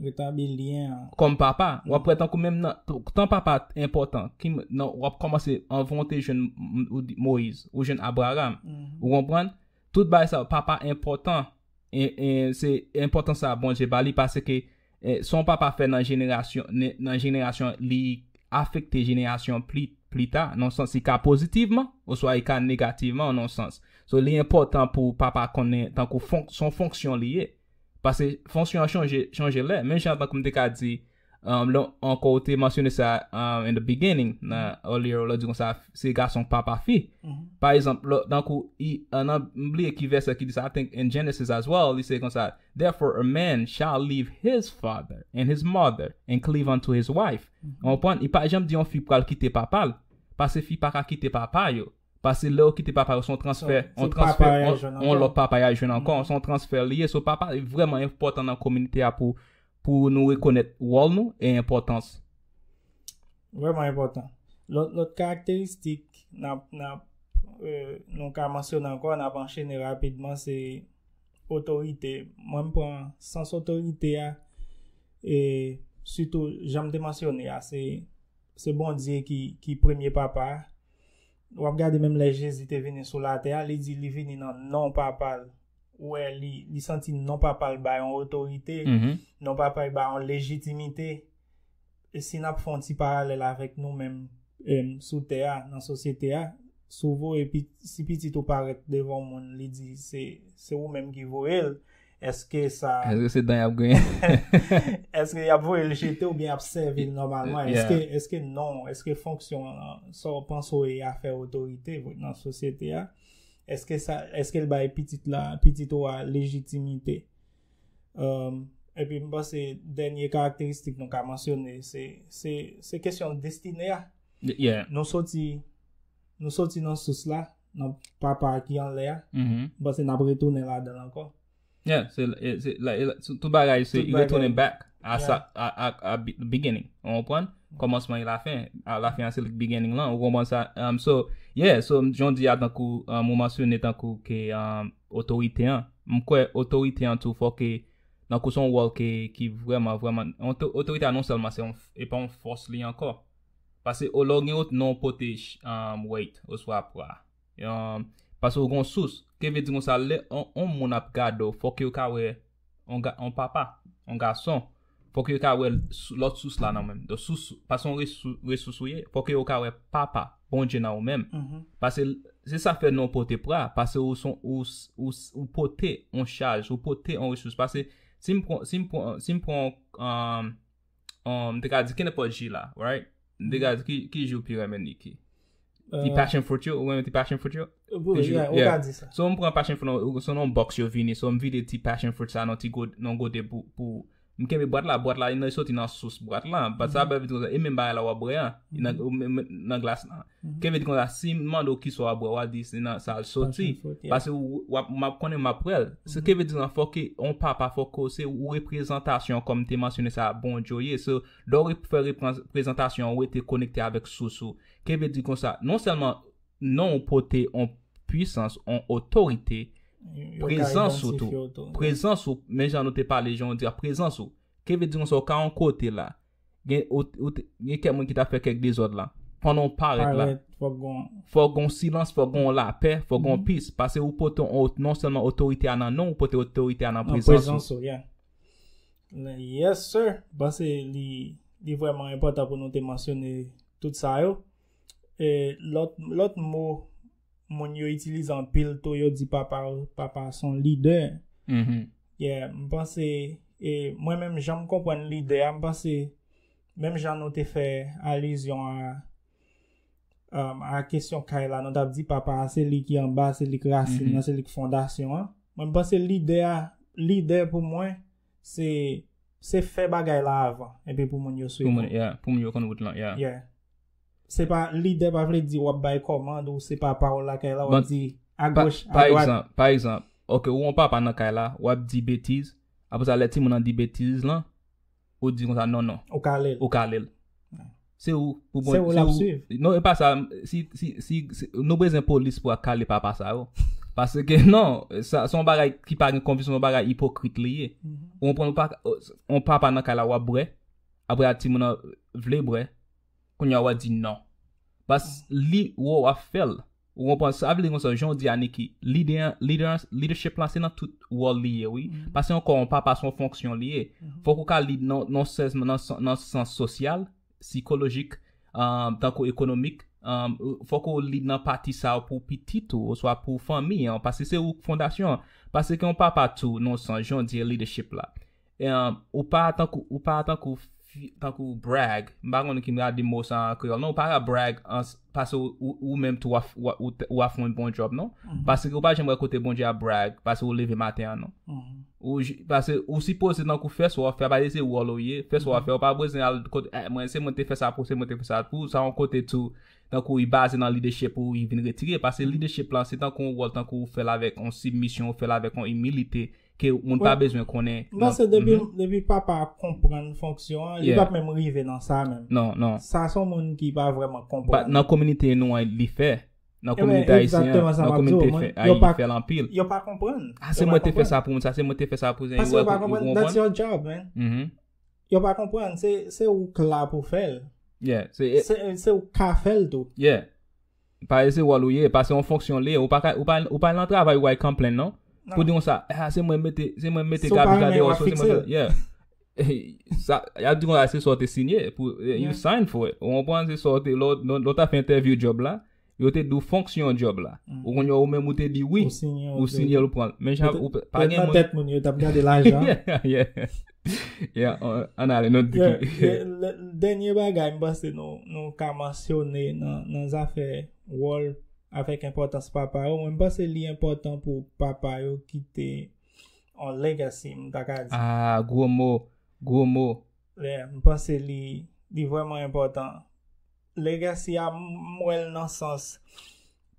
Speaker 1: kòm Papa. W ap wè tankou menm nan tan Papa a t enpòtan, ki nan w ap kòmanse anvan ou te jwenn Moyiz, ou jwenn Abraram. Ou konprann? Tout bagay sa yo, Papa enpòtan, e e se enpòtans sa a Bondye ba li paske Sa yon papa fè nan jenerasyon li afekte jenerasyon plita nan sans li ka pozitivman oswa li ka negativman nan sans. So li enpòtan pou papa konnen tankou son fonksyon li ye. Pase fonksyon an chanje lè. Men jan tankou m te ka di ankò ou te mansyone sa in the beginning nan earlier lè ou di konsa se gason k pa pa fi. Pa egzanp tankou m bliye ki vèsè ki di sa I think in Genesis as well li se konsa. Therefore a man shall leave his father and his mother, and cleave unto his wife. Ou konprann? Li pa janm di yon fi pral kite papa l, pase fi pa ka kite papa yo. Pase lè yo kite papa yo se yon transfè, yon transfè, yon lòt papa y al jwenn ankò, se yon transfè li ye. So papa vrèman enpòtan nan kominite a pou pou nou rekonèt wòl nou e enpòtans.
Speaker 2: Vrèman enpòtan. Lòt lòt karakteristik n ap n ap nou ka mansyone ankò, n ap anchene rapidman se. otorite. Mwen m pran sans otorite a e sitou jan m te mansyone a se Bondye ki premye papa a. W ap gade menm lè Jezi te vini sou latè a li di li vini nan non papa l. Ou wè li santi non papa l ba yon otorite, non papa l ba yon lejitimite. Si n ap fè yon ti paralèl avèk nou menm sou tè a, nan sosyete a, si w voye si pitit ou parèt devan yon moun li di se ou menm ki voye l, èske sa. Èske se dan y ap griyen?
Speaker 1: Èske
Speaker 2: y ap voye l jete oubyen y ap sèvi l nòmalman? Èske non, èske fonksyon sa w panse w ye a fè otorite nan sosyete a? Èske l bay pitit ou a lejitimite? Epi m panse dènye karakteristik nou ka mansyone se kesyon destine a. Nou soti nou soti nan sous la, nan papa ki anlè a, m panse n ap retounen ladan l ankò.
Speaker 1: Yeah, tout bagay se retounen back a sa, a beginning. Ou konprann? Kòmansman e lafen. A lafen an se li k beginning lan. Ou konprann sa? So, yeah, so joun di a tankou, ou mansyone tankou ke, um, otorite an m kwè otorite an tou fòk e nan kou son wòl ke ki vrèman vrèman otorite an non sèlman se yon e pa yon fòs li ankò pase o lè w gen yon non pote wait oswa pra yon pase w gen yon sous ke vle di konsa lè yon moun ap gade w fòk yo ka wè yon papa yon gason Fò ke yo ka wè lòt sous la nan menm. Don sous, pa son resous ou ye, fò ke yo ka wè papa, Bondye nan ou menm. Pase, se sa fè non pote pra, pase ou son, ou pote on chaj, ou pote on resous. Pase, si m pran, si m pran, si m pran, m te ka di kenenpòt ji la, right? Degas ki jou pi renmen Niki? Ti passion fruit yo, ou renmen ti passion fruit yo? Ou ka
Speaker 2: di sa. So m pran passion
Speaker 1: fruit yo, so non box yo vini, so m vide ti passion fruit sa non ti gout, non goute pou, m kenbe boat la, boat la yon nan soti nan sous boat la, bat sa bèvè di kon sa, e menm ba la wap bre an, nan glas la. Kenbe di kon sa, si m mande w ki sa wap bre, wap di se nan sa l soti, pase wap, m ap konnen m ap bre l. Se kenbe di kon sa, fòk e, on papa fòk o se ou reprezantasyon kòm te mansyone sa bon djo ye, so. Lè w fè prezantasyon ou rete konekte avèk sous ou. Kenbe di konsa, non sèlman non ou pote on pwisans, on otorite, prezans ou tou. Prezans ou, men jan nou te pale, jan ou di a, prezans ou. Kenbe di konsa ou ka on kote la, gen kèk moun ki ta fè kèk dezòd la. Pandan ou parèt la, fò gon silans, fò gon lapè, fò gon pis. Pase ou pote on, non sèlman otorite a nan non ou, ou pote otorite a nan prezans ou. Yes
Speaker 2: sir, panse li li vreman enpotan pou nou te mansyone tout sa yo. E lot lot mo moun yo itilize anpil tou yo di papa papa son lidè. Mhm. Yeah, m panse e mwen menm jan m konprann lidè a m panse menm jan nou te fè alizyon a A kesyon kay la, nou tap di papa a se li ki anba, se li ki rasin nan, se li ki fondasyon an. Mwen panse lide a, lide pou mwen, se fè bagay la avan, epi pou moun yo swiv. Pou moun yo konn wout
Speaker 1: lan, yeah. Yeah.
Speaker 2: Se pa, lide pa vle di wap bay kòmand ou se papa ou la kay la, wap di a goch, a dwat. Pa egzanp, pa egzanp, ok
Speaker 1: ou an papa nan kay la, wap di betiz, apre sa lè ti moun nan di betiz lan, ou di konsa non non. Ou ka ale l. Ou ka ale
Speaker 2: l. Se
Speaker 1: ou pou bon. Se ou lap swiv. Non
Speaker 2: e pa sa,
Speaker 1: si, si, si, nou bezwen polis pou akale papa sa yo. Paske non, sa son bagay ki pa gen konplis, son bagay ipokrit li ye. Ou konprann ou pa ka, on papa nan kay la wap bwè, apre a timoun nan vle bwè, kounye a wap di non. Bas li wè wap fè l. Ou konprann sa vle di konsa jan ou di a Niki lide an lide an leadership lan se nan tout wòl li ye wi pa se yon kò yon papa se yon fonksyon li ye fòk ou ka lide nan non sèlman nan sans sosyal sikolojik tankou ekonomik fòk ou lide nan pati sa pou pitit ou oswa pou fanmi an paske se ou k fondasyon an paske yon papa tou nan yon sans jan ou di leadership la Ou pa tankou, ou pa tankou, tankou brag, m pa konnen ki m gade mo sa an kreyòl non, ou pa ka brag ans, pase ou menm tou ou ap fè yon bon djòb non, pase ou pa janm wè kote Bondye ap brag pase ou leve maten an non, ou ji, pase ou sipoze tankou fè sa w ap fè a pa di se wòl ou ye, fè sa w ap fè ou pa bezwen al kot eh mwen se mwen te fè sa pou ou, se mwen te fè sa pou ou, sa yon kote tou tankou li baze nan lidechip pou li vin retire, pase lidechip lan se tankou yon wòl tankou ou fè l avèk yon sibmisyon, ou fè l avèk yon imilite Ke moun pa bezwen konnen. M panse depi
Speaker 2: papa a konprann fonksyon an, li pap menm rive nan sa menm. Non, non. Sa son moun
Speaker 1: ki
Speaker 2: pa vreman konprann. Nan kominite nou an
Speaker 1: li fè. Nan kominite ayisyen an, nan kominite fè a li fè lanpil. Yo pa konprann.
Speaker 2: A se mwen te fè sa pou
Speaker 1: moun sa, se mwen te fè sa pou moun sa. Yo pa konprann. That's
Speaker 2: your job man. Yo pa konprann. Se ou k la pou fè l. Yeah. Se ou k ka fè l tou. Yeah. Pa
Speaker 1: e se wòl ou ye, pa se yon fonksyon li ye, ou pa ka, ou pa, ou pa nan travay ou ay kanplenn non. Pou di konsa, ah se mwen mete, se mwen mete gabich la deyò, so se mwen fè, yeah. Sa, yap di konsa se sa ou te sinye pou, you sign for it, ou konprann, se sa ou te, lè w, lè w ta fè entèvyou djòb la, yo te di w fonksyon djòb la. Ou konn yo ou menm ou te di wi, ou sinye l ou pran l. Men jan, ou pa gen moun. Petèt nan tèt
Speaker 2: moun yo, yo tap gade lajan. Yeah, yeah. Ya,
Speaker 1: an ale nou di ki.
Speaker 2: Dènye bagay m panse nou ka mansyone nan zafè wòl avèk enpòtans papa yo, mwen m panse li enpòtan pou papa yo kite yon legacy m ta ka di. Ah, gwo mo,
Speaker 1: gwo mo.
Speaker 2: M panse li vrèman enpòtan. Legacy a m wè l nan sans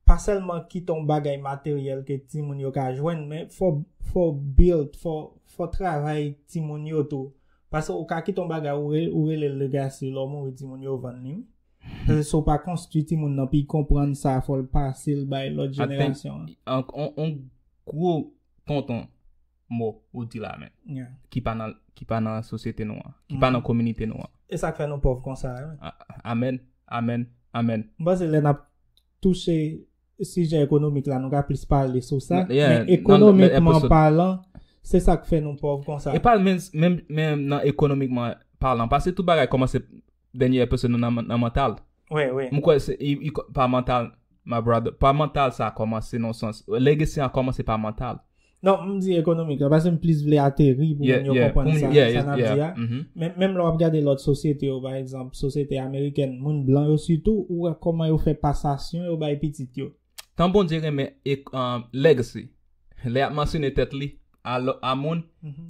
Speaker 2: pa sèlman kite yon bagay materyèl ke timoun yo ka jwenn men fò w build, fò travay timoun yo tou paske ou ka kite yon bagay ou rele l legacy lè w mouri timoun yo vann li wi paske si w pa konstwi timoun nan pou y konprann sa fò l pase l bay lòt jenerasyon an. Yon
Speaker 1: gwo tonton mo ou di la men. Ki pa nan, ki pa nan sosyete nou an. Ki pa nan kominite nou an. E sa k fè nou pòv
Speaker 2: konsa a wi. Amen,
Speaker 1: amen, amen.
Speaker 2: M panse lè n ap touche sijè ekonomik la nou ka plis pale sou sa. Men ekonomikman palan, se sa k fè nou pòv konsa. E pa menm
Speaker 1: nan ekonomikman palan. Pase tout bagay kòmanse Dènyè episode nou nan nan mantal. Wi, wi. M kwè
Speaker 2: se i
Speaker 1: pa mantal my brother. Pa mantal sa kòmanse nan yon sans. Legacy an kòmanse pa mantal. Non, m di
Speaker 2: ekonomik la pase m plis vle ateri pou moun yo konprann sa sa nap di a. Men menm lè wap gade lòt sosyete yo pa egzanp sosyete amerikèn moun blan yo sitou ou wè kòman yo fè pasasyon yo bay pitit yo. Tan Bondye renmen
Speaker 1: legacy, lè yap mansyone tèt li a moun,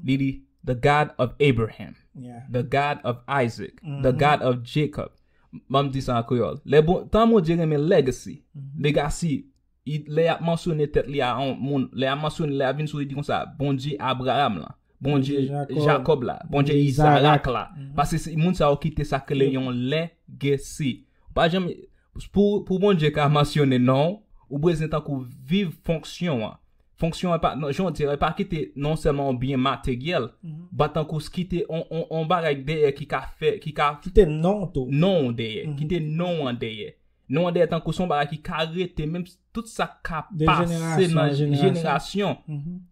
Speaker 1: li di the God of Abraham, the God of Isaac, the God of Jacob. Ban m di sa an kreyòl. Tan Bondye renmen legacy, legacy, lè yap mansyone tèt li a moun, lè yap mansyone, lè yap vin sou li di konsa, Bondye Abraham lan. Bondye Jakòb la, Bondye Izarak la. Pase se moun sa yo ki te sa kele yon legesi. Pa janm, pou Bondye ka mansyone non, ou bezwen tankou viv fonksyon an. Fonksyon an pa, jan w di, pa ki te non sèlman yon byen materyèl, ba tankou s ki te yon bagay dèyè ki ka fè, ki ka. Ki te
Speaker 2: non tou. Non dèyè, ki te
Speaker 1: non an dèyè. Nou an dèyè tankou son bagay ki ka rete menm tout sa ka pase nan jenerasyon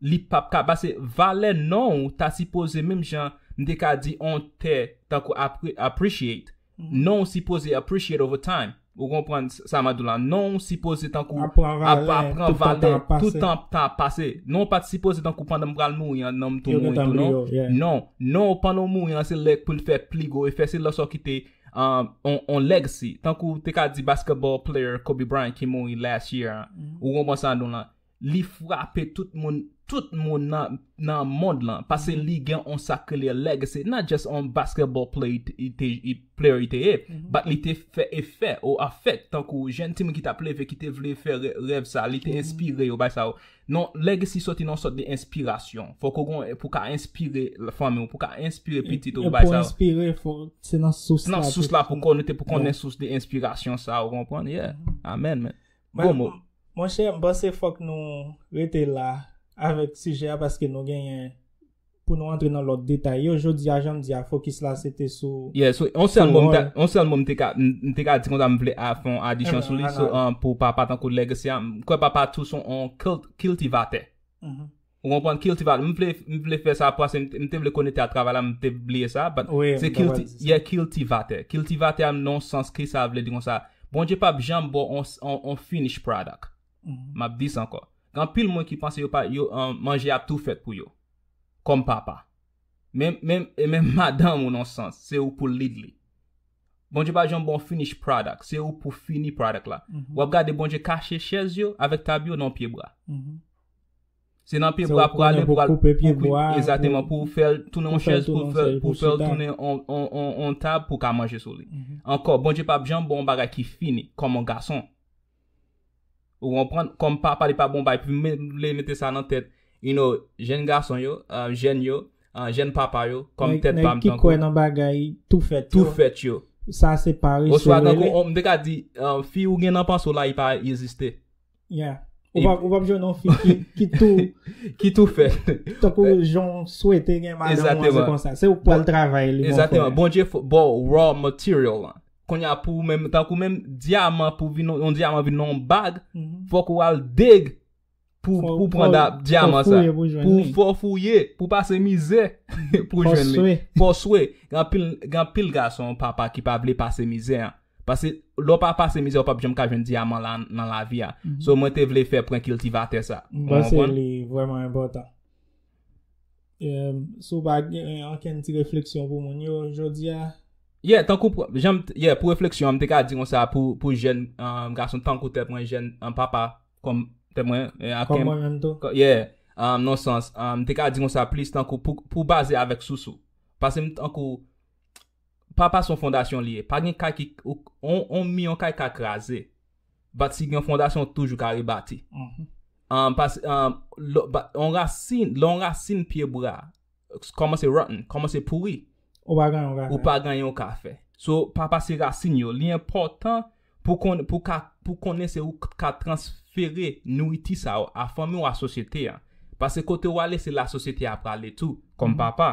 Speaker 1: li pap ka pase valè non ou ta sipoze menm jan m te ka di on tè tankou appreciate non ou sipoze appreciate over time ou konprann sa map di la non ou sipoze tankou ap pran valè tout tan ap pase non ou pat sipoze tankou pandan m pral mouri an non m tou mouri tou non non ou pandan ou mouri an se lè pou l fè pli gwo efè se lè sa w kite on legacy tankou ou te ka di basketball player Kobe Bryant ki mouri last year an ou konprann sa nou lan li frape tout moun tout moun nan mond lan pase li gen on sa k rele legacy not just on basketball player li te ye but li te fè efè ou affect tankou jèn timoun ki t ap leve ki te vle fè rèv sa li te enspire yo bay sa yo Non, legacy soti nan yon sòt de enspirasyon. Fòk ou gen yon, pou ka enspire fanmi ou, pou ka enspire pitit ou, pou bay sa yo. E pou enspire, fò,
Speaker 2: se nan sous la. Se nan sous la pou kon, nou te
Speaker 1: pou konnen sous de enspirasyon sa, ou konprann? Yeah. Amen, man. Gwo mo. Monchè, m panse
Speaker 2: fòk nou rete la avèk sijè a paske nou genyen. Pou nou antre nan lòt detay yo, jodi a jan m di a fokis la se te sou. Yeah, so yon sèl mo m
Speaker 1: ta, yon sèl mo m te ka, m te ka di konsa m vle fè yon adisyon sou li, so pou papa tankou legacy a, m kwè papa tou son yon kiltivatè. Ou konprann? Kiltivatè. M vle, m vle fè sa pase m te vle konekte a travay la m te bliye sa but se kilti, yeah kiltivatè. Kiltivatè a nan yon sans kisa vle di konsa? Bondye pap janm ba w yon yon finish product. Map di sa ankò. Gen anpil moun ki panse yo pa yo manje ap tou fèt pou yo. Kòm papa. Men men e menm madanm ou non sans se ou poul lead li. Bondye pa janm ba w finish product, se ou pou fini product la. Wap gade Bondye kache chèz yo avèk tab yo nan yon pye bwa. Se nan pye bwa pou ale pou al koupe pye bwa a. Exactement
Speaker 2: pou ou fèl
Speaker 1: tounen yon chèz pou fèl pou fèl tounen yon tab pou ka manje sou li. Ankò Bondye pap janm ba w yon bagay ki fini kòm yon gason. Ou konprann? Kòm papa li pa bon bay pou vle mete sa nan tèt you know jèn gason yo, jèn yo, jèn papa yo kòm tèt pa m tankou. Nèg ki kwè nan bagay
Speaker 2: tou fèt yo. Tou fèt yo. Sa
Speaker 1: se parese
Speaker 2: l rele. Oswa tankou m te ka
Speaker 1: di fi ou gen nan panse w la li pa egziste. Ya.
Speaker 2: Ou pap jwenn yon fi ki tou. Ki
Speaker 1: tou fèt. Tankou jan
Speaker 2: w swete gen madanm ou an se konsa. Se ou k pral travay li. Egzateman. Bondye fò
Speaker 1: ba w raw material lan. Konnya pou ou menm, tankou menm diaman pou vin yon diaman vin yon bag, fòk ou al dig pou ou pran diaman sa. Pou ou fò fouye, pou ou pase mizè pou ou jwenn li. Fò swe. Gan pil gason papa ki pa vle pase mizè an. Pase lò pa pase mizè ou pap jwenn ka jwenn diaman la nan lavi a. So mwen te vle fè pran kiltivatè sa. Mwen se li vwèman
Speaker 2: enpòtan. Si w pa gen ankenn ti refleksyon pou moun yo jodi a. Yeah, tankou
Speaker 1: janm yeah pou refleksyon an m te ka di konsa pou jèn gason tankou tèt mwen jèn an papa kòm tèt mwen aken mwen menm tou.
Speaker 2: Yeah. Non
Speaker 1: sans, m te ka di konsa plis tankou pou baze avèk sous ou. Pase m tankou papa son fondasyon li ye. Pa gen kay ki on mi yon kay ka kraze. Bat si gen fondasyon toujou ka rebati. An pas an on rasin, lè on rasin pye bwa kòmanse rotten, kòmanse pouri. Ou pa gen yon ka fè. Ou pa gen yon ka fè. So pa pase rasin yo. Li enpòtan pou konn pou ka pou konnen se ou k ka transfere nouriti sa yo a fanmi ou a sosyete a. Pase kote ou ale se la sosyete a prale tou kòm papa.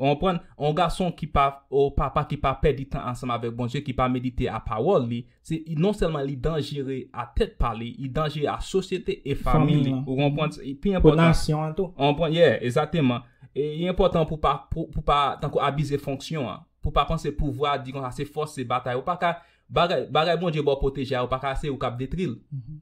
Speaker 1: Ou konprann? Yon gason ki pa, yon papa ki pa pèdi tan ansanm avèk Bondye, ki pa medite a pawòl li, se, non sèlman li danjere a tèt pa li, li danjere a sosyete e fanmi li. Ou konprann? Se pi enpòtan. Pou nasyon an tou. Ou konprann?
Speaker 2: Yeah, ezakteman.
Speaker 1: E li enpòtan pou pa, pou pa, tankou abize fonksyon an. Pou pa panse pouvwa, di konsa, se fòs, se batay. Ou pa ka, Bagay bagay Bondye baw pwoteje a ou pa ka se ou kap detril.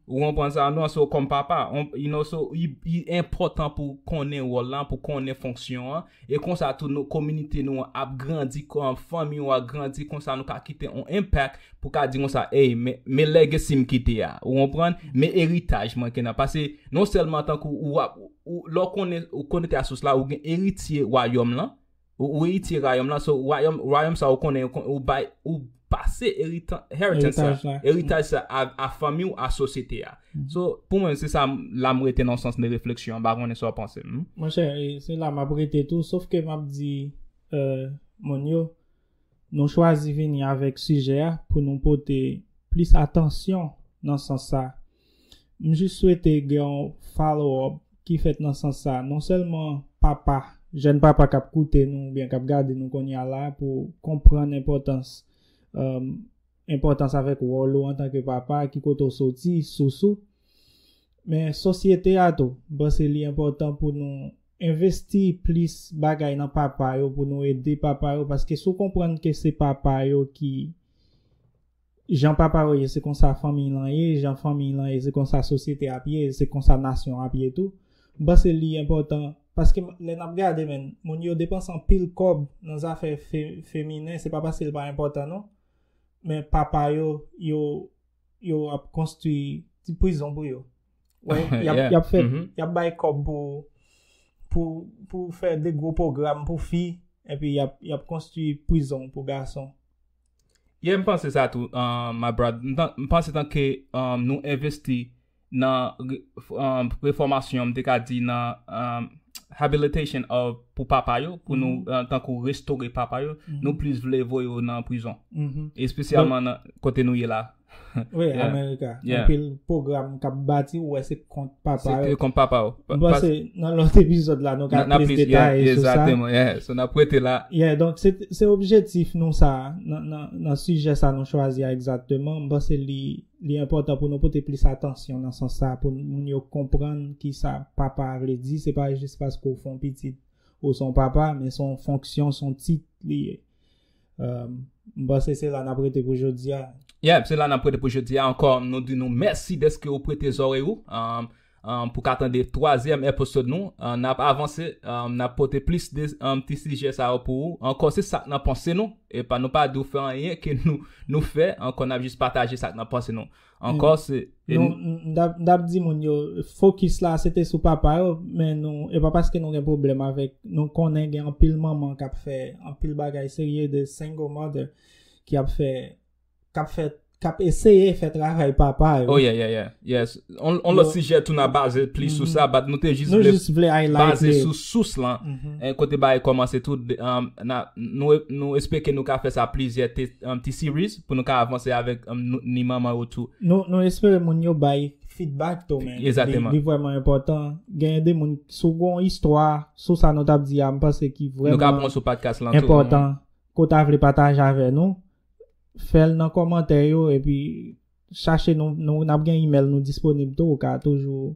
Speaker 1: Ou konprann sa non so kòm papa you know so li enpòtan pou konnen wòl la pou konnen fonksyon an e konsa tou nou kominite nou an ap grandi fanmi ou a grandi konsa nou ka kite on enpak pou ka di konsa ey men legacy m kite a ou konprann men eritaj mwen kena pase non sèlman tankou ou wap lè w konnen ou konekte a sous la ou gen eritye wayòm lan. Ou eritye rayòm la, so wayòm, rayòm sa ou konnen, ou bay, ou pase eritan, inheritance sa, Eritaj la. eritaj sa a, a fanmi ou, a sosyete a. So, pou mwen se sa m, la m rete nan yon sans de refleksyon an, m pa konnen sa w panse. Mph. Monchè, e, se
Speaker 2: la m ap rete tou, sof ke m ap di e, moun yo, nou chwazi vini avèk sijè a pou nou pote plis atansyon nan sans sa a. M jis swete gen yon follow up ki fèt nan sans sa non sèlman papa, jèn papa kap koute nou oubyen kap gade nou konnya la pou konprann enpòtans enpòtans avèk wòl ou antanke papa ki kote ou soti, sous ou men sosyete a tou m panse li enpòtan pou nou envesti plis bagay nan papa yo pou nou ede papa yo paske si w konprann ke se papa yo ki. Jan papa ou ye se konsa fanmiy lan ye, jan fanmiy lan ye se konsa sosyete ap ye, se konsa nasyon ap ye tou. M panse li enpòtan paske lè nap gade menn moun yo depanse anpil kòb nan zafè feminen se pa paske l pa enpòtan non men papa yo yo yo ap konstwi ti prizon pou yo wè yap fè yap bay kòb pou pou pou fè de gwo pwogram pou fi epi yap konstwi prizon pou gason. Yeah
Speaker 1: m panse sa tou my brad m panse tanke nou envesti nan refòmasyon m te ka di nan habilitation of pou papa yo pou nou tankou restore papa yo nou plis vle voye yo nan prizon espesyalman nan kote nou ye la.
Speaker 2: Wi, Amerika.
Speaker 1: Anpil
Speaker 2: program
Speaker 1: kap
Speaker 2: bati ou wè se kont papa yo. Se kont papa yo. Mwen
Speaker 1: panse nan lòt
Speaker 2: epizòd la nou ka plis detay sou sa.
Speaker 1: Exactement, yeah.
Speaker 2: So nan prete
Speaker 1: la. Yeah, donk se
Speaker 2: objetif nou sa nan sijè sa nou chwazi a exactement. Mwen panse li important pou nou pote plis atansyon nan sans sa pou moun yo konprann ki sa papa vle di. Se pa jis paske ou fon pitit ou son papa, men son fonksyon, son tit li ye. M panse se la n ap rete pou jodi a. Yep, se la n ap rete pou
Speaker 1: jodi a ankò. Nou di nou mèsi dèske ou prete zòrèy ou pou ka tande twazyèm episode nou. N ap avanse, n ap pote plis de ti sijè sa yo pou ou. Ankò se sa k nan panse nou. Epa nou pa di w fè anyen ke nou fè. Ankò n ap jis pataje sa k nan panse nou. Ankò se. Nou m tap
Speaker 2: di moun yo fokis la se te sou papa yo men nou e pa paske nou gen pwoblèm avèk nou konnen gen anpil manman k ap fè anpil bagay serye de single mother ki ap fè k ap fè k ap eseye fè travay papa yo. Oh yeah yeah yeah
Speaker 1: yes on lòt sijè tou n a baze plis sou sa bat nou te jis vle Nou jis vle ay like baze
Speaker 2: sou sous
Speaker 1: lan en kote bagay kòmanse tou nou espeke nou ka fè sa plizyè ti series. pou nou ka avanse avèk ni manman yo tou. Nou espere moun
Speaker 2: yo bay feedback tou men. Exactement. Li vrèman
Speaker 1: enpòtan.
Speaker 2: Genyen de moun si w gon istwa sou sa nou tap di a m panse ki vrèman. Nou ka pran sou podcast lan tou.
Speaker 1: Enpòtan ke w ta
Speaker 2: vle pataje avè nou, fè l nan kòmantè yo epi chache nou nap gen email nou disponib tou ou ka toujou